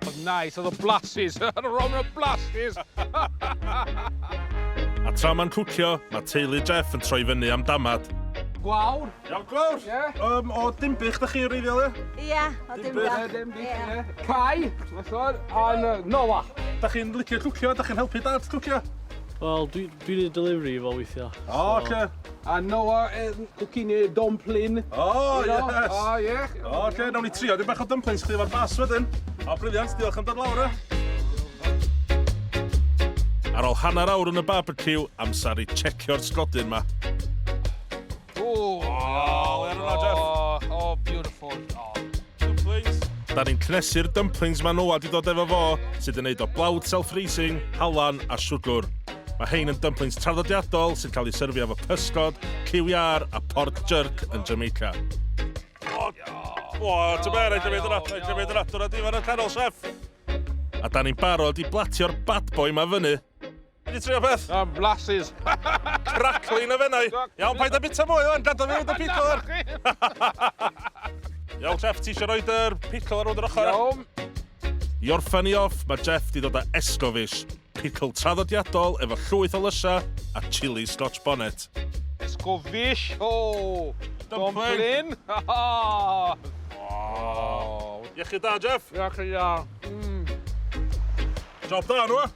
Oedd nice, oedd o blasus. Ron o blasus. a tra mae'n cwcio, mae teulu Jeff yn troi fyny am damad. Gwawr, Iawn Glawr? Ie? Yym o Dinbych dach chi wreiddiol ie? Ie, o Dinbych. Dinbych. Dinbych ie. Cai, ma' siŵr, a Noah. Dach chi'n licio cwcio, dach chi'n helpu dad cwcio? Wel dwi dwi'n neud delivery i fo weithia. O oce. A Noah yn cwcin i dwmplin. O yes! O ie. O oce, nawn ni trio dipyn bach o dymplins chdi efo'r bas wedyn. O brilliant, diolch am dod lawr e. Ar ôl hanner awr yn y barbeciw, amser i tshecio'r sglodyn 'ma. Ooh! Oh, well done, Jeff. Oh, oh, beautiful. Oh. Dumplings. Da ni'n cnesu'r dumplings mae Noah di dod efo fo, sydd yn neud o blawd self-raising, halan a siwgr. Mae hein yn dumplings traddodiadol sy'n cael ei syrfio efo pysgod, ciwiar a pork jerk yn Jamaica. O, o, ti'n ber, rhaid i mi dyna, rhaid i mi dyna, dyna di fan y canol, chef. A da ni'n barod i blatio'r bad boy ma fyny. Ti wedi trio beth? Am blasus. Cracklin o fennau. Iawn, paid â bita mwy o'n gadw fi dy pickle ar. Iawn, Jeff, ti eisiau rhoi'r pickle ar ôl yr ochr? Iawn. I orffen i off, mae Jeff di dod â esgofish, pickle traddodiadol efo llwyth o lysa a chili scotch bonnet. Esgofish, o! Oh. Dumpling. Iechyd da, Jeff. Iechyd da. Mm. Job da, nhw.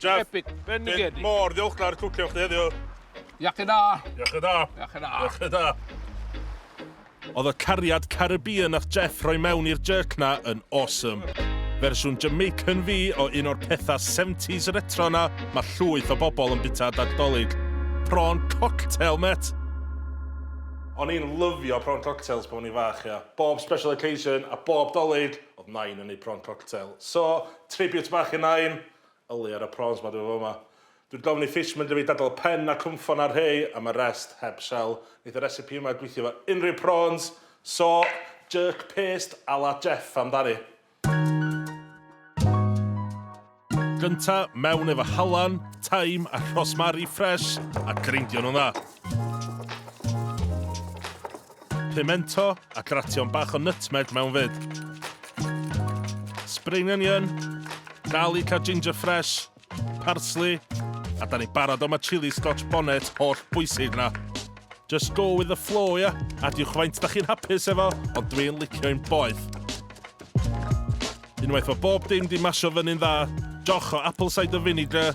Jeff, Epic, bendigedig. Dwi mor ddiolchgar cwcio chdi heddiw. Iachyd da. Iachyd da. Iachyd da. Iachyd da. Oedd y cariad Caribbean nath Jeff rhoi mewn i'r jerk na yn awesome. Fersiwn Jamaican fi o un o'r pethau 70s retro na mae llwyth o bobl yn bita dag dolig. Prawn cocktail, met! O'n i'n lyfio prawn cocktails pan o'n i'n fach, ia. Bob special occasion a bob dolig, oedd Nain yn neud prawn cocktail. So, tribute bach i Nain. Yli ar y prawns ma dw fo ma. Dwi'n gofyn i Fish mynd â fi i dadl pen a cwmffon a rhei am y rest heb shell. Neith y recipe yma gwithio efo unrhyw prawns, so jerk paste a la Jeff amdani. Gynta, mewn efo halan, taim a rhosmari ffresh a greindio nhw'n dda. Pimento a gration bach o nutmeg mewn fyd. Spring onion, garlic a ginger fresh, parsley, a da ni barod am y chili scotch bonnet holl bwysig na. Just go with the flow, ia? Yeah? Adiwch faint da chi'n hapus efo, ond dwi'n licio i'n boeth. Unwaith o bob dim di masio fyny'n dda, joch o apple cider vinegar,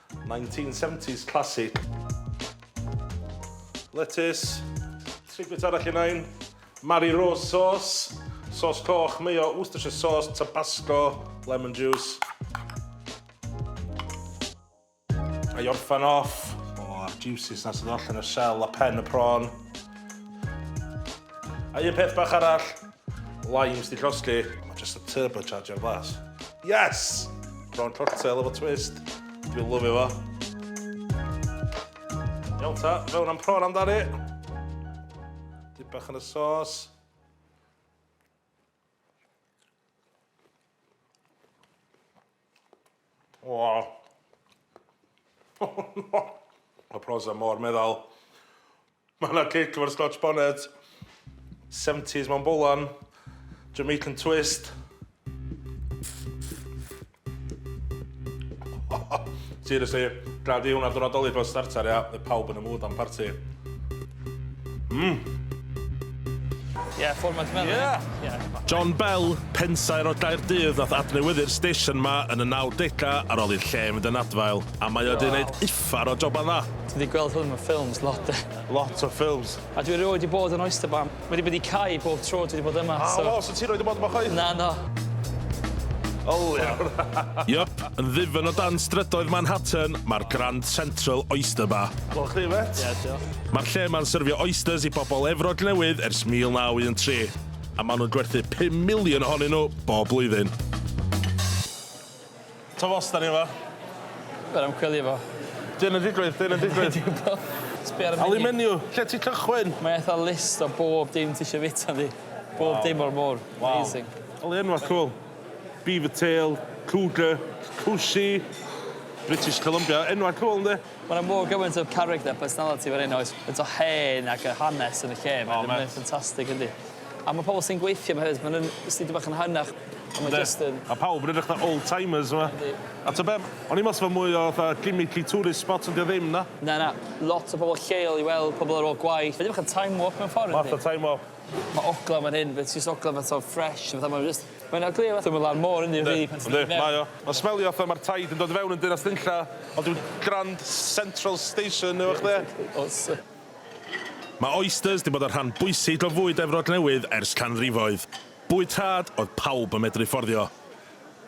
Nineteen seventies classic. Letys. Tri bwyt arall i nain. Mari Rose sauce. Sauce coch, mayo, Worcestershire sauce, tabasco, lemon juice. A i orffan off. O, oh, juices na sydd allan y shell a pen y prawn. A un peth bach arall. Limes di llosgi. Mae just y turbo charger glas. Yes! Prawn cocktail efo twist. Dwi'n lyfio fo. Iawn ta, fewn am prawn amdani. Dip bach yn y sos. O! Mae Proza mor meddal. Mae yna cic efo'r Scotch bonnet. Seventies mewn bolan. Jamaican twist. Seriously, gwna di hwnna diwrnod Dolig fel starter ia? Fydd pawb yn y mood am parti. Mmm! Yeah, ffordd mae'n smelio. Yeah! Yeah. John Bell, pensaer o Gaerdydd nath adnewyddu'r station 'ma yn y nawdega ar ôl i'r lle fynd yn adfail, a mae o wedi neud uffar o joban dda. Ti 'di gweld hwn mewn ffilms lot de? Lot o ffilms. A dwi erioed 'di bod yn Oyster Bar. Wedi bod i Cai bob tro dwi 'di bod yma, so... O, so ti erioed 'di bod yma chwaith? Na, na. O lew! Yep, yn ddifyn o dan strydoedd Manhattan, mae'r Grand Central Oyster Bar. Wel, chdi mêt. Ie, diolch. Mae'r lle yma'n syrfio oysters i bobl Efrog Newydd ers 1913, a maen nhw'n gwerthu 5 miliwn ohonyn nhw bob blwyddyn. Twf os da ni yma. Wel, am chwilio fo. Dyn yn digwydd, dyn yn digwydd. Sbio ar y menu. menu, lle ti cychwyn? Mae eitha list o bob dim ti eisiau fita ynddi. Bob dim o'r môr. Wow. Amazing. Oli enwa cwl. Beaver tail, cougar, cwsi, British Columbia. Enwa cwl ynddi? Ma' 'na mor gymaint o character a personality fan 'yn oes faint o hen ac y hanes yn y lle ma'... O ma'... ...mae o'n ffantastig yndi? A ma' pobol sy'n gweithio 'ma hefyd ma' nw'n jyst dipyn bach yn hanach a ma' jyst yn... Ma' pawb yn edrych fatha old timers yma. Yndi. A t'o' be' o'n i'n me'wl sa fe mwy o fatha gimmicky tourist spot on' 'di o ddim na. Na na lot o pobol lleol i weld pobol ar ôl gwaith ma' 'di bach yn time warp mewn ffor yndi? Math o time warp. Ma' ogla fan hyn be' ti jyst ogla fatha fresh fatha ma' jyst Mae yna gliw wrth ymyl ar môr yn Newry. Yndi, mae o. Mae'n smelio fatha mae'r taid yn dod i fewn yn Dinas Nunlla, ond dyw Grand Central Station ddim chdi. Oes. Mae oysters 'di bod yn rhan bwysig o fwyd Efrog Newydd ers canrifoedd. Bwyd rhad oedd pawb yn medru fforddio.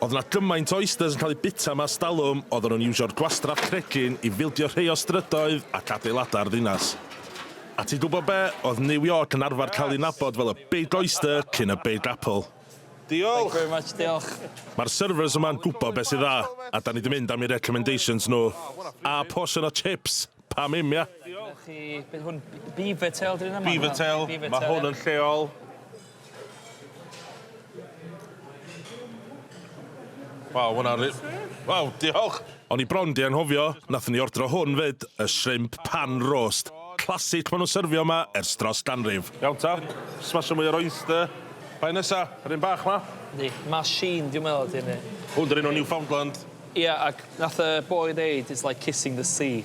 Oedd 'na gymaint o oysters yn cael eu bwyta yma ers talwm, oedden nhw'n iwsio'r gwastraff cregyn i fildio rhei o strydoedd ac adeiladau'r ddinas. A ti'n gwybod be, oedd New York yn arfer cael ei nabod fel y Big Oyster cyn y Big Apple. Diolch! Thank you very much, diolch. Mae'r servers yma'n gwybod beth sy'n dda, a 'da ni 'di mynd am eu recommendations nhw. A portion o chips! Pam 'im, ia? Diolch i... be 'di hwn? Beaver tail 'di hwn yma? Beaver tail. Beaver tail, ia. Mae hwn yn lleol. Waw, hwnna ri... Waw, diolch! O'n i bron 'di anghofio, nathon ni ordro hwn 'fyd, y shrimp pan roast. Classic ma' nhw'n syrfio 'ma ers dros ganrif. Iawn ta, smasho mwy o'r oyster. Pa un nesa? Yr un bach 'ma? Yndi, machine dwi'n meddwl ydi hynny. Hwn 'di'r un o Newfoundland. Ia, ac nath y boi ddeud it's like kissing the sea.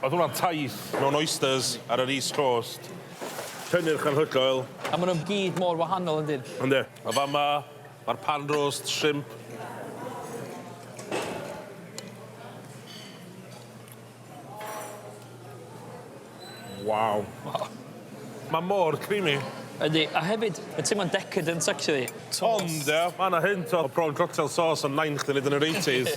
Oedd hwnna'n taith mewn oysters ar yr East Coast. Cynnyrch anhygoel. A maen nhw gyd mor wahanol yn dyn? Yndi. A fama, mae'r pan roast shrimp. Waw. Waw. Mae mor creamy. Yndi, a hefyd, mae'n teimlo'n decadent actually. Ond, ia, mae 'na hint o prawn cocktail sauce yn Nain chdi 'fyd yn yr eighties.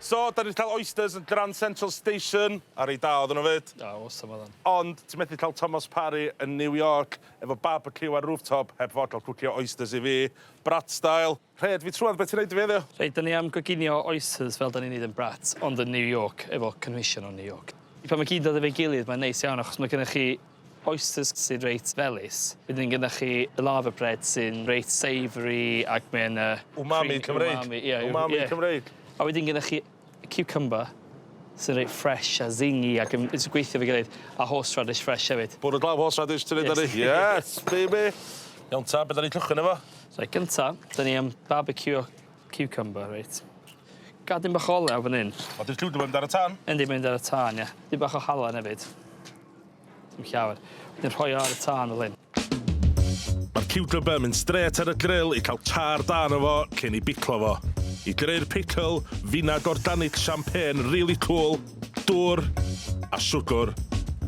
So, 'dan ni 'di cael oysters yn Grand Central Station, a reit dda oedden nhw 'fyd. O, awesome oedden. Ond ti methu cael Thomas Parry yn New York efo barbeciw ar rooftop heb fod cael cwcio oysters i fi, brat style. Rhed fi trwad, be' ti'n neud i fi heddiw? Reit, 'dan ni am goginio oysters fel 'dan ni'n neud yn brat, ond yn New York efo cynhwysion o New York. Pan ma' gyd yn dod efo'i gilydd mae'n neis iawn achos ma' gynnoch chi Oysters sy'n reit felys. Wedyn gyda chi lava bread sy'n reit savoury ac mae yna... Umami Cymreig. Umami, ie. Umami Cymreig. A wedyn gyda chi cucumber sy'n reit fresh a zingy ac yn jyst yn gweithio efo'i gilydd, a horseradish fresh hefyd. Bwrw glaw horseradish ti'n neud ar 'i? Yes, baby! Iawn ta, be' 'dan ni'n cychwyn efo? Reit, gynta, 'dan ni am barbeciwio ciwcymbyr, reit. Gadyn bach o olew fan 'yn. O, 'di'r ciwcymbyr mynd ar y tân? Yndi, mynd ar y tân, ie. Dipyn bach o halen hefyd. Dim llawer. Wedyn rhoi o ar y tân fel hyn. Mae'r ciwcymber yn mynd strêt ar y gril i cael char da arno fo cyn ei biclo fo. I greu'r pickle, finag organic champagne rili cŵl, dŵr a siwgr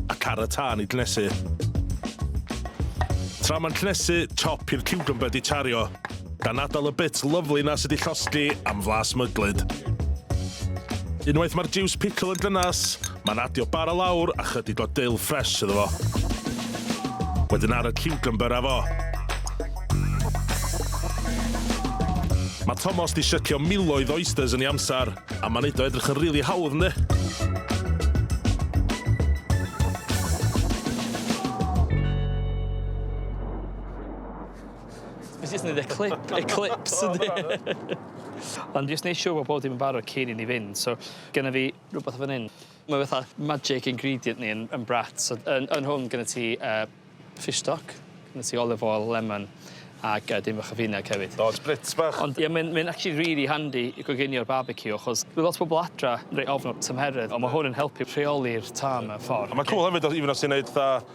a car y tân i gnesu. Tra mae'n cnesu, chop i'r ciwcymber 'di chario. Gan atal y bits lyfli 'na sy 'di llosgi am flas myglyd. Unwaith mae'r jiws pickle yn dynas, mae'n adio bara lawr a chydig o dill ffres iddo fo. Wedyn ar y ciwcymbyr â fo. Mae Tomos 'di shycio miloedd o oysters yn ei amser, a mae'n neud o edrych yn rili hawdd, yndi? Nes i jyst neud y clip eclips yndi? Ond jyst neu' siŵr bo' pob dim yn barod cyn i ni fynd so gynno fi rwbeth fan 'yn ma' fatha magic ingredient ni yn yn Brat so yn yn hwn gynno ti yy fish stock ma' ti olive oil lemon ag yy dipyn bach o fineg hefyd. O spritz bach. Ond ie mae'n mae'n actually rili handi i goginio barbeciw achos ma' lot o bobol adra reit ofn y tymheredd on' ma' hwn yn helpu rheoli'r tân mewn ffor. A ma'n cŵl hefyd os even os ti'n neud fatha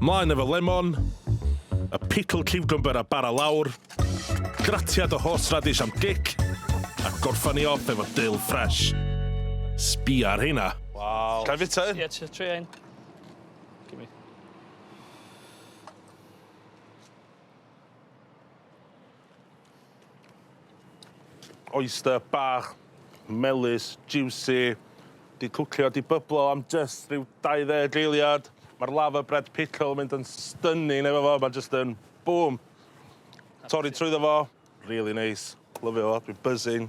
Mlaen efo lemon, y pickled ciwcymbyr a bara lawr, gratiad o horseradish am gic, a gorffan ni off efo dill ffresh. Sbia ar heina. Waw. Ga i fita un? Ie, ti- tria un. Gimme. Oyster bach, melys, jiwsi, 'di cwcio, 'di byblo am jyst ryw 20 eiliad. Ma'r lava bread pickle yn mynd yn stunning efo fo, ma' jyst yn bŵm. Torri trwyddo fo, rili neis, lyfio fo, dwi'n buzzing.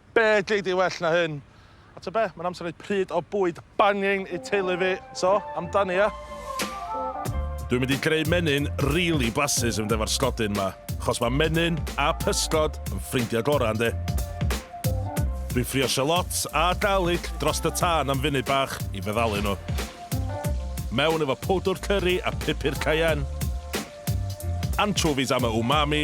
Be gei di well na hyn? A tybed be? Mae'n amser rhoi pryd o bwyd banging i teulu fi. So, amdani ia? Dwi'n mynd i greu menyn rili blasus yn mynd efo'r sgodyn 'ma, achos mae menyn a pysgod yn ffrindiau gorau, yndi? Dwi'n ffrio shallots a garlic drost y tân am funud bach i feddalu nhw. Mewn efo powdwr cyri a pupur cayenne. Anchovies am y umami,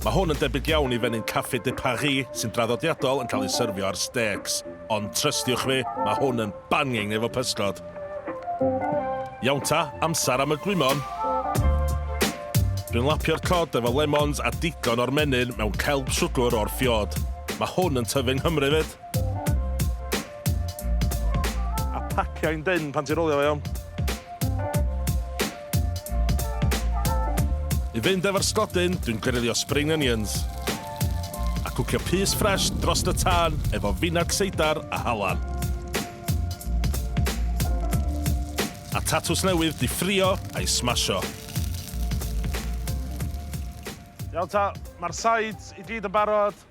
Mae hwn yn debyg iawn i fenyn Café de Paris sy'n draddodiadol yn cael ei syrfio ar stêcs, ond trystiwch fi, mae hwn yn banging efo pysgod! Iawn ta, amser am y gwymon! Dwi'n lapio'r cod efo lemons a digon o'r menyn mewn celb siwgwr o'r ffiod. Mae hwn yn tyfu yng Nghymru 'fyd! A pacio hi'n dynn pan ti'n rowlio fo iawn. I fynd efo'r sglodyn, dwi'n grilio spring onions. A cwcio pys ffresh drost y tân efo finag seidar a halan. A tatws newydd 'di ffrio a'i smasho. Iawn ta, mae'r sides i gyd yn barod.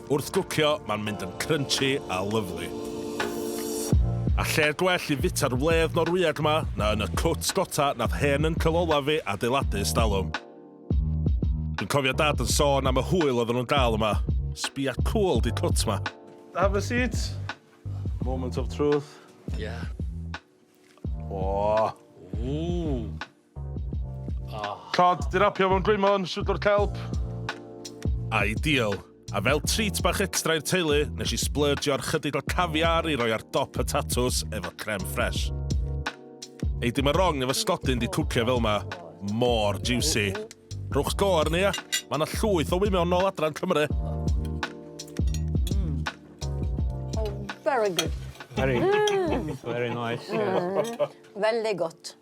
Wrth gwcio, mae'n mynd yn crunchy a lyfli. A lle gwell i fita'r wledd Norwyeg ma na yn y cwt gota nath hen uncle olaf fi adeiladu ers dalwm. Dwi'n cofio dad yn sôn am y hwyl oedden nhw'n gael yma. Sbia cwl di cwt ma. Have a seat. Moment of truth. Yeah. Ww. Ww. Tra di rapio mewn dwymo yn Swyddfa'r Celf. Ideal. A fel treat bach extra i'r teulu, nes i splurgio ar chydig o caviar i roi ar dop y tatws efo creme fresh. Ei dim yn wrong efo stodyn di cwcio fel ma. Mor juicy. Rhowch go arni ia? Ma na llwyth o wymion nôl adra yn Cymru. Oh, very good. Very. Very nice. Very good.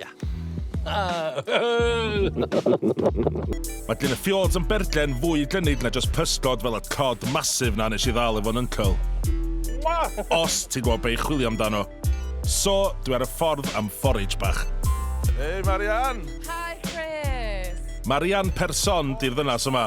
Ia. Mae dyn y fjords yn berllen fwy dynid na just pysgod fel y cod massive na nes i ddal efo'n uncle. Os ti'n gwybod be i chwilio amdano. So, dwi ar y ffordd am forage bach. Hei Marian! Hi Chris! Marian Person di'r ddynas yma.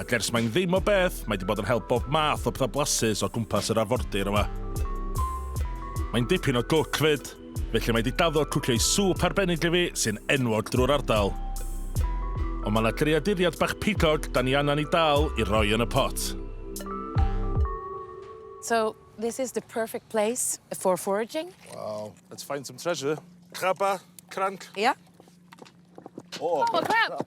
Ac ers mae'n ddim o beth, mae di bod yn help bob math o pethau blasus o gwmpas yr arfordir yma. Mae'n dipyn o gwc fyd, felly mae di daddo cwcio i sŵp arbennig i fi sy'n enwog drwy'r ardal. Ond mae yna greaduriad bach pigog da ni angen i dal i roi yn y pot. So, this is the perfect place for foraging. Wow. Let's find some treasure. Craba, cranc. Yeah. Oh, oh a crab. crab.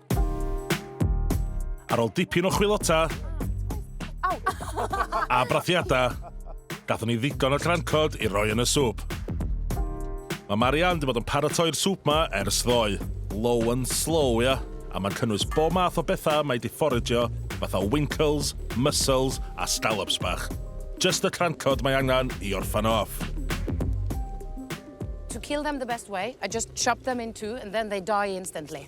Ar ôl dipyn o chwilota a brathiadau, gatho ni ddigon o crancod i roi yn y swp. Mae Marianne wedi bod yn paratoi'r swp ma ers ddoe. Low and slow, ia. A mae'n cynnwys bob math o bethau mae di fforagio, fatha winkles, mussels a scallops bach. Just y crancod mae angen i orffan off. To kill them the best way, I just chop them in two and then they die instantly.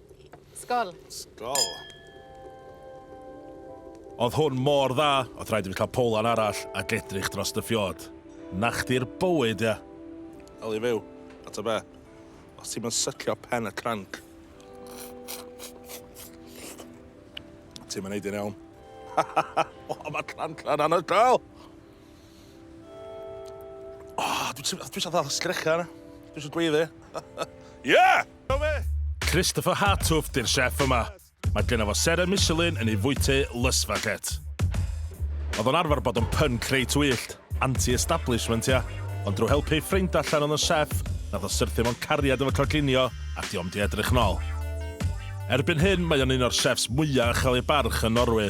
Sgol. Sgol. Oedd hwn mor dda, oedd rhaid i fi cael powlan arall ac edrych dros dy ffiod. Na chdi'r bywyd, ia. Eli fyw, a ta be? Os ti'n mynd syllio pen y cranc, ti'n mynd neud i'n iawn. o, mae cranc na'n anhygoel! O, dwi'n dwi eisiau ddal sgrecha yna. Dwi eisiau gweiddi. yeah! Christopher Hartouft yw'r chef yma. Mae genna fo seren Michelin yn ei fwyty Lysfachet. Oedd o'n arfer bod yn pun creu twyllt, anti-establishment ia, ond drwy helpu ei ffrind allan oedd yn chef, nath o syrthio mewn cariad efo coginio a diom di edrych nôl. Erbyn hyn mae o'n un o'r chefs mwya uchel ei barch yn Norwy.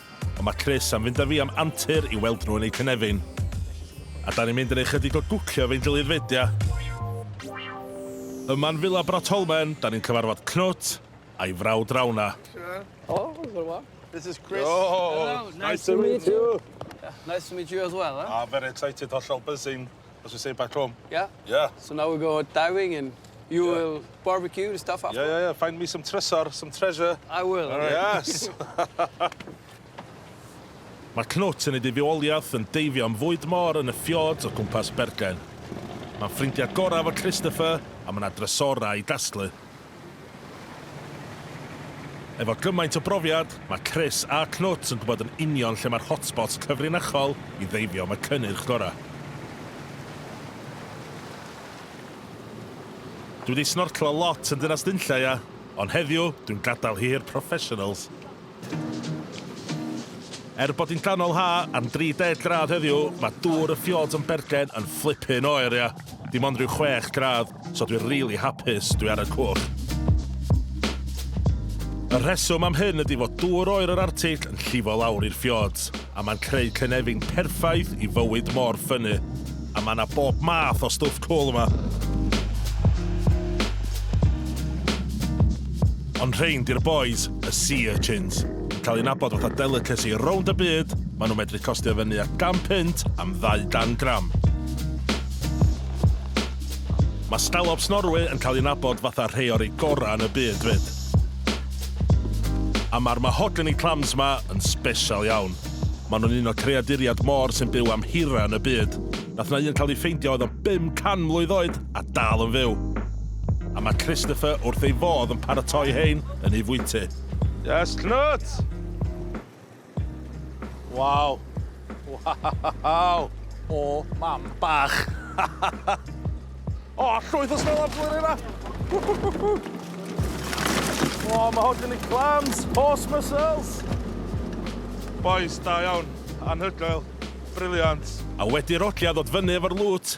Ond mae Chris am fynd â fi am antur i weld nhw yn eu cynefin. A da ni'n mynd yn ei chydig o gwcio efo'n gilydd fyd, ia? Yma yn Villa Brotholmen, da ni'n cyfarfod Knut a'i frawd Rauna. Oh, it's been a while. This is Chris. Oh, nice to meet you. Nice to meet you as well, eh? Ah, very excited, hollol buzzing. As we say back home. Ia? Ia. So now we go diving and you Ia. will barbecue the stuff after. Ia ia ia find me some trysor, some treasure. I will. Alright. Yes. Mae Knut yn ei dyfioliaeth yn deifio am fwyd môr yn y fjords o gwmpas Bergen. Mae'n ffrindiau gorau efo Christopher a mae yna drysorau i dasglu. Efo gymaint o brofiad, mae Chris a Knut yn gwybod yn union lle mae'r hotspots cyfrinachol i ddeifio am y cynnyrch gorau. Dwi wedi snorclo lot yn Dinas Nunllaia, ond heddiw dwi'n gadael hi i'r professionals. Er bod hi'n ganol ha am 30 gradd heddiw, mae dŵr y fjords yn bergen yn fflipin oer, ia. Dim ond rhyw 6 gradd, so dwi rili hapus dwi ar y cwch. Y rheswm am hyn ydi fod dŵr oer yr Artill yn llifo lawr i'r fjords. a mae'n creu cynefin perffaith i fywyd mor ffynnu. A mae yna bob math o stwff cwl yma. Ond rhein di'r bois, y sea urchins. Yn cael eu nabod fatha delicacy rownd y byd, maen nhw'n medru costio fyny at gan punt am ddau dan gram. Mae scallops Norwy yn cael eu nabod fatha rhei o'r rei gorau yn y byd 'fyd. A mae'r mahogany clams 'ma yn sbesial iawn. Maen nhw'n un o creaduriad môr sy'n byw am hirau yn y byd. Nath 'na un cael ei ffeindio oedd o 500 mlwydd oed a dal yn fyw. A mae Christopher wrth ei fodd yn paratoi hein yn ei fwyty. Yes, Cnwt! Waw! Waw! O, mam bach! O, llwyth o snow ar blwyddyn yma! O, mae hwn yn y clams, horse muscles! Boys, da iawn, anhygoel, briliant. A wedi rhodiad ddod fyny efo'r lŵt,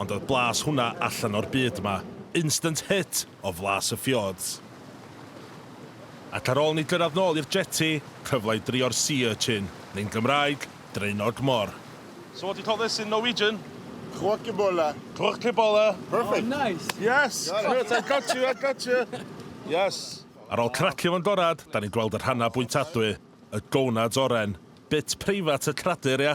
Ond oedd blas hwnna allan o'r byd 'ma. Instant hit o flas y fjords. Ac ar ôl ni gyrraedd nôl i'r jetty, cyfle i drio'r sea urchin, neu'n Gymraeg, draenog mor. So what do you call this in Norwegian? Kråkebolle. Kråkebolle. Perfect. Oh, nice. Yes! Yes, I got you, I got you. Yes. Ar ôl cracio fo'n gorad, 'dan ni'n gweld y rhannau bwytadwy, y gonads oren. Bit preifat y cradur, ia?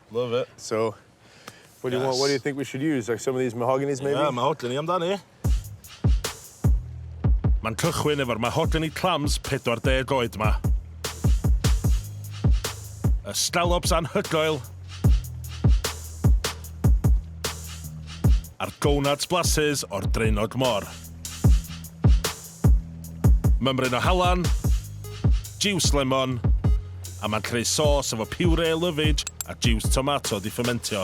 Love it. So, what do you want, what do you think we should use? Like some of these mahoganys maybe? Ie, mahogany amdani. Mae'n cychwyn efo'r mahogany clams 40 oed ma. Y scallops anhygoel. A'r gonads blasus o'r draenog mor. Mymryn o halan, jiws lemon, a mae'n creu sôs efo piwrê lyfij a jiws tomato 'di ffymentio.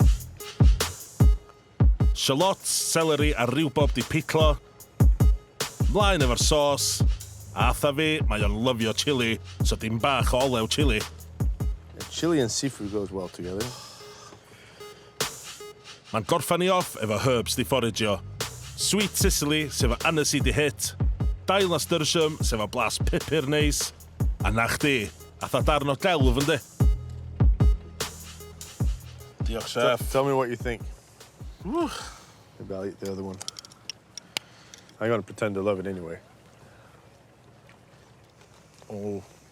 Shallots, seleri a riwbob 'di pitlo. Mlaen efo'r sôs, a atha fi, mae o'n lyfio chili, so dim bach o olew chili. Chili and seafood goes well together. Mae'n gorffan i off efo herbs di fforigio, sweet Sicily sef o anise di hit, dail nasturtium sef o blas pupur neis, a na chdi, atha darn o delf yndi? Diolch chef. Tell me what you think. Wwch! Maybe I'll eat the other one. I'm gonna pretend I love it anyway. Oh.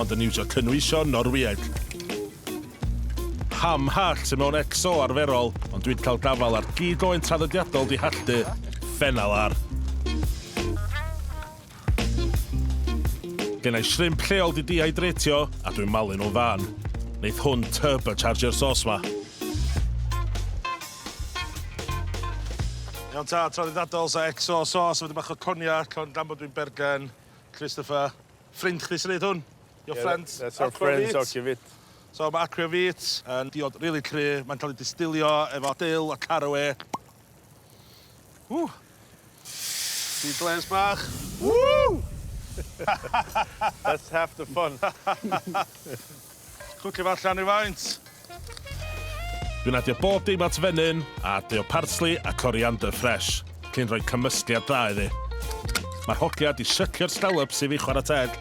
ond yn iwsio cynwysion Norwyeg. Pam hall sy mewn XO arferol, ond dwi'n cael gafael ar gig oen traddodiadol di halltu, Fennel ar. Gennai shrimp lleol di dihydratio a dwi'n malu nhw'n fân. Neith hwn turbochargio'r sauce ma. Iawn ta, traddodiadol sa XO sauce efo dipyn bach o cognac, ond gan bod dwi'n bergen, Christopher. Ffrind chdi sy'n neud hwn? Your friend? Yeah, that's our friend Aquavit. So mae Aquavit yn diod rili cry, mae'n cael ei distilio efo dill a carawê. Ww! Sea glares bach. Ww! That's half the fun. Cwcio fo allan rywfaint. Dwi'n adio bob dim at fenyn a adio parsli a coriander ffresh cyn rhoi cymysgliad dda iddi. Mae'r hogia 'di sycio'r stallops i fi chwarae teg.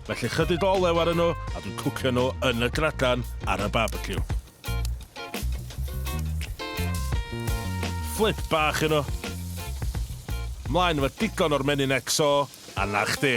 Felly chydig o olew arnyn nhw a dwi'n cwcio nhw yn y gradan ar y barbeciw. Fflip bach i nhw. Mlaen efo digon o'r menyn XO a 'na chdi.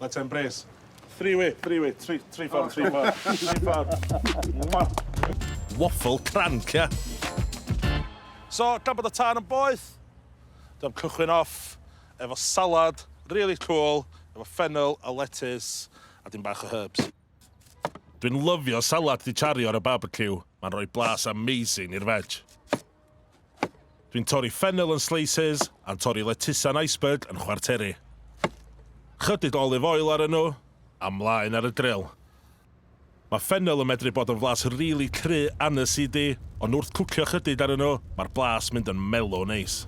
Let's embrace. Three way, three way, three, three ffordd, three ffordd, three ffordd. Waffle cranc, ia. So, gan bod y tân yn boeth, dyna'n cychwyn off efo salad, really cool, efo fennel a lettuce, a dim bach o herbs. Dwi'n lyfio salad di chario ar y barbecue. Mae'n rhoi blas amazing i'r veg. Dwi'n torri ffennel yn slices a'n torri lettuce a'n iceberg yn chwarteri. Chydig olive oil ar nhw, a mlaen ar y grill. Mae ffennel yn medru bod yn flas rili cry and acidy, ond wrth cwcio chydig ar nhw, mae'r blas mynd yn mellow neis.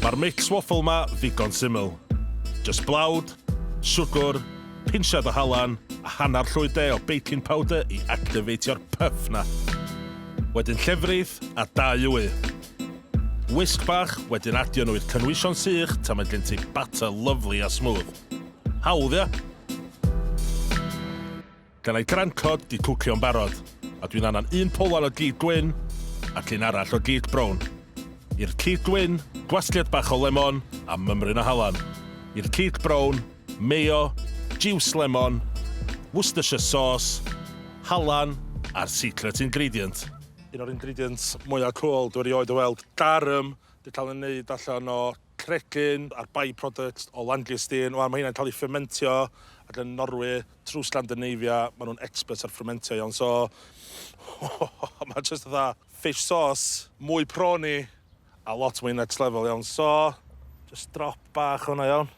Mae'r mix waffle 'ma ddigon syml. Jyst blawd, siwgwr, Pinsiad o halan a hanner llwy de o baking powder i activeitio'r puff 'na. Wedyn llefrith a dau wy. Wisg bach, wedyn adio nhw i'r cynwysion sych tan mae gen ti batter lyfli a smooth. Hawdd, ia? Gennai grand cod 'di cwcio'n barod, a dwi'n annan un polan o gig gwyn ac un arall o gig brown. I'r cig gwyn, gwasgiad bach o lemon a mymryn o halan. I'r cig brown, mayo, jiws lemon, Worcestershire sauce, halan a'r secret ingredient. Un o'r ingredients mwya cwl dwi erioed o weld, garum, di cael ei wneud allan o cregyn a'r by-products o langeusteen. Wan ma' heina'n cael ei ffementio ac yn Norwy trwy Sgandinavia ma' nhw'n experts ar ffementio iawn so ma' jyst fatha fish sauce, mwy prawny a lot mwy next level iawn so jyst drop bach o hwnna iawn.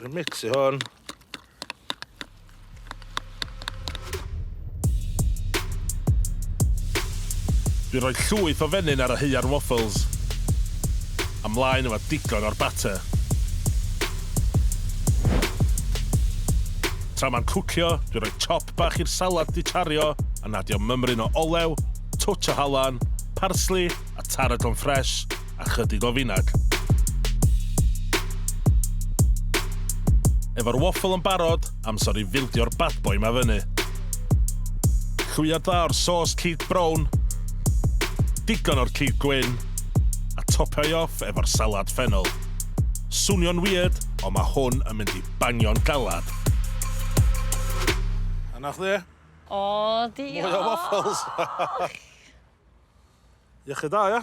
Dwi'n mixio hwn. Dwi'n rhoi llwyth o fenyn ar y heua'r waffles. A mlaen efo digon o'r batter. Tra mae'n cwcio, dwi'n rhoi chop bach i'r salad di chario a nadio mymryn o olew, twtsh o halan, parsli a tarragon ffresh, a chydig o finag. Efo'r waffle yn barod, amser i fildio'r bad boy ma fyny. Llwyad dda o'r sauce cig brown, digon o'r cig gwyn, a topio'i off efo'r salad ffennol. Swnio'n weird, ond mae hwn yn mynd i bangio'n galad. A na chdi? O, diolch! Mwy o waffles! Iechyd da, ia?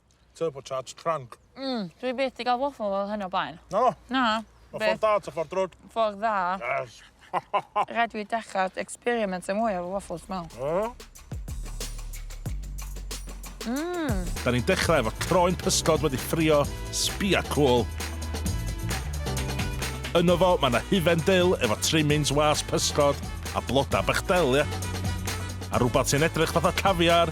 Turbocharged trunk. Mm, dwi byth 'di ga'l waffle fel hyn o blaen. Na? Na. Ma' ffordd da ta ffordd drwg? Ffordd dda. Yes. Rhaid fi dechra experiment yn mwy efo waffles dwi me'wl. Yy? Mmm. Da ni'n dechrau efo croen pysgod wedi ffrio, sbia cwl. Yno fo, mae yna hufen dil efo trimmings was pysgod a bloda bach del, ia? A rhywbeth sy'n edrych fatha caviar.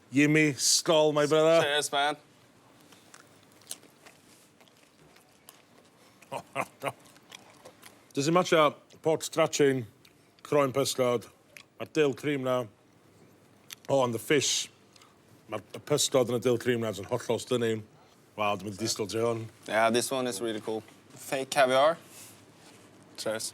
Yummy, skol my brother. Cheers man. Does dim otsh a pork strachin, croen pysgod, ma'r dill cream na. Oh and the fish. Ma'r y pysgod yn y dill cream na jys yn hollol stunning. Waw dwi mynd i disgwl ti hwn. Yeah this one is really cool. Fake caviar. Cheers.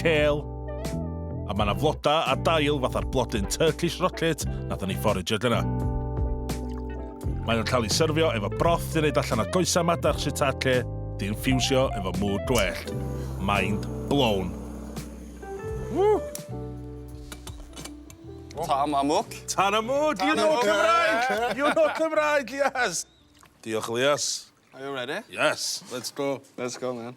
Kale. A mae yna floda a dail fatha'r blodyn Turkish rocket nathon ni fforage ag yna. Mae nhw'n cael ei syrfio efo broth sy'n neud allan o goesau madarch shiitake di'n ffiwsio efo mŵr gwellt. Mind blown. Woo! Tam am wc. Tan am wc! You know Cymraeg! You know Cymraeg, yes! Diolch, Elias. Are you ready? Yes, let's go. Let's go, man.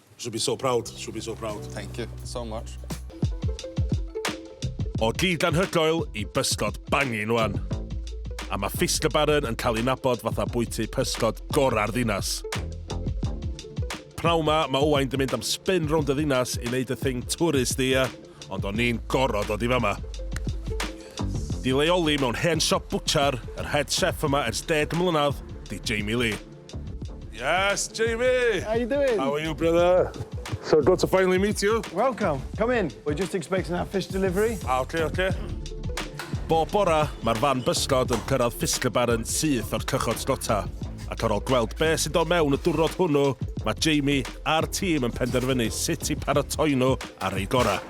Should be so proud, should be so proud. Thank you so much. O gig anhygoel i bysgod bangin wan. A mae Fist y Baron yn cael ei nabod fatha bwyty pysgod gorau'r ddinas. Pnaw ma, mae Owain di mynd am spin rownd y ddinas i wneud y thing twrist ia, ond o'n i'n gorod o di fama. Di leoli mewn hen siop bwchar, yr head chef yma ers deg mlynedd, di Jamie Lee. Yes, Jamie! How you doing? How are you, brother? So good to finally meet you. Welcome. Come in. We're just expecting our fish delivery. Ah, okay, okay. Bob bora, mae'r fan bysgod yn cyrraedd Fiskerbar yn syth o'r cychod slota. Ac ar ôl gweld be sydd o mewn y dwrnod hwnnw, mae Jamie a'r tîm yn penderfynu sut i paratoi nhw ar ei gorau.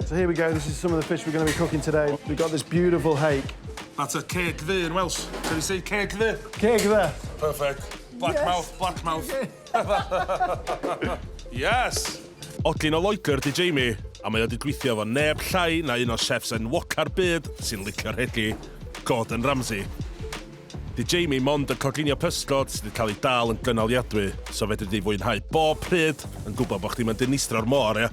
So here we go, this is some of the fish we're going to be cooking today. We've got this beautiful hake. That's a ceg ddu yn Welsh. Can you say ceg ddu? Ceg ddu. Perfect. Black yes. mouth, black mouth. yes! Odlin o Loegr di Jamie, a mae o wedi gweithio efo neb llai na un o'r chefs enwoca'r byd sy'n licio'r hegi, Gordon Ramsay. Di Jamie mond yn coginio pysgod sydd wedi cael ei dal yn gynaliadwy, so fedri di fwynhau bob pryd yn gwybod bod chdi'n mynd yn istro'r môr, ia?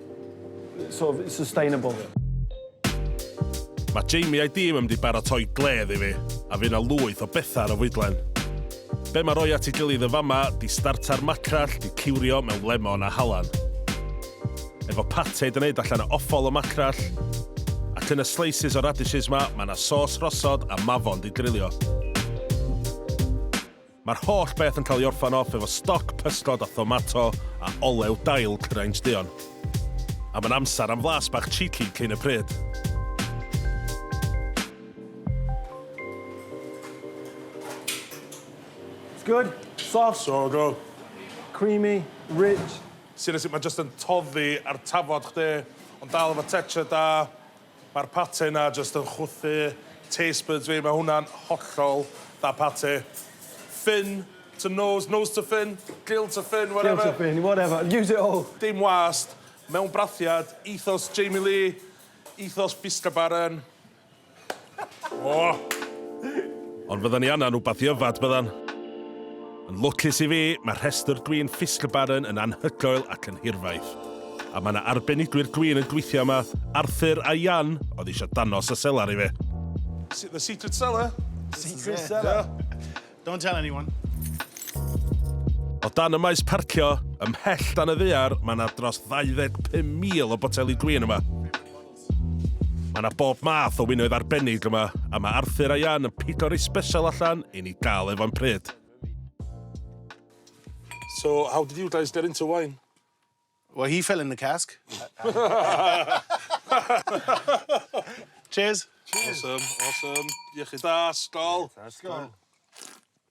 sort of sustainable. Mae Jamie a'i dîm yn mynd i baratoi gledd i fi, a fydd yna lwyth o bethau ar y fwydlen. Be mae rhoi at ei gilydd yn fama 'di startar macrell 'di ciwrio mewn lemon a halan. Efo pate 'di wneud allan o offal o macrell, ac yn y slices o radishes 'ma mae 'na sos rhosod a mafon 'di drilio. Mae'r holl beth yn cael ei orffen off efo stoc pysgod a thomato a olew dail cyraints duon. A mae'n amser am flas bach cheeky cyn y pryd. It's good? Soft? So good. Creamy, rich. Seriously, mae jyst yn toddi ar tafod chdi, ond dal efo texture da. Mae'r pate 'na jyst yn chwythu taste buds fi, mae hwnna'n hollol da pate. Ffyn to nose, nose to ffyn, gill to ffyn, whatever. Gill to ffyn, whatever, use it all! Dim wast, mewn brathiad, ethos Jamie Lee, ethos Bista Baron. O! Ond fyddan ni angan rhywbeth i yfed, byddan? Yn lwcus i fi, mae rhestr dwyn Fiskebaren yn anhygoel ac yn hirfaith. A mae 'na arbenigwyr dwyn yn gweithio yma, Arthur a Jan oedd eisiau danos y selar i fi. The secret cellar. Secret cellar. Don't tell anyone. O dan y maes parcio, ymhell dan y ddaear, mae 'na dros 25,000 o boteli dwyn yma. Mae 'na bob math o winoedd arbennig yma, a mae Arthur a Jan yn pigo rei sbesial allan i ni gael efo'n pryd. So, how did you guys get into wine? Well, he fell in the cask. Cheers. Cheers. Awesome, awesome. Iechyd da, skål. Skål.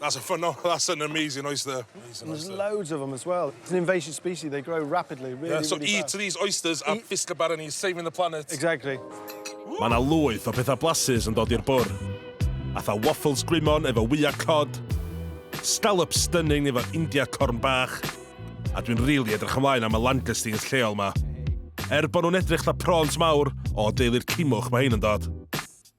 That's a phenomenal, that's an amazing oyster. Amazing There's oyster. loads of them as well. It's an invasive species, they grow rapidly, really, yeah, so really eat fast. these oysters and fish the barony, saving the planet. Exactly. Mae yna lwyth o pethau blasus yn dod i'r bwr. Atha waffles gwymon efo wyau cod, scallop stunning efo India corn bach, a dwi'n rili really edrych ymlaen am y langoustines lleol ma. Er bod nhw'n edrych la prawns mawr, o deulu'r cimwch mae hyn yn dod.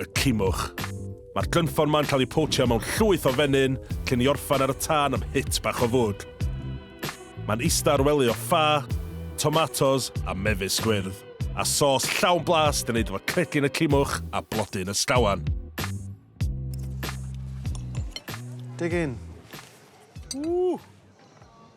y cimwch. Mae'r glynffon ma'n cael ei potio mewn llwyth o fenyn cyn i orffan ar y tân am hit bach o fwd. Mae'n ista ar wely o ffa, tomatos a mefus gwyrdd, a sos llawn blas yn neud efo cregyn y cimwch a blodyn y sgawan. Dig in. Ww!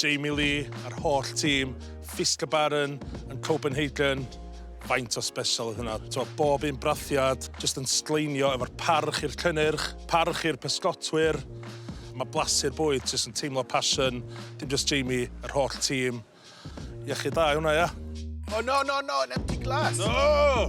Jamie Lee a'r holl tîm Fiske Barron yn Copenhagen, faint o sbesial oedd hynna. T'wod, bob un brathiad jyst yn sgleinio efo'r parch i'r cynnyrch, parch i'r pysgotwyr. Mae blasu'r bwyd jyst yn teimlo passion, dim jyst Jamie, yr holl tîm. Iechyd da i hwnna, ia? O, no, no, no, yn empty glass! No!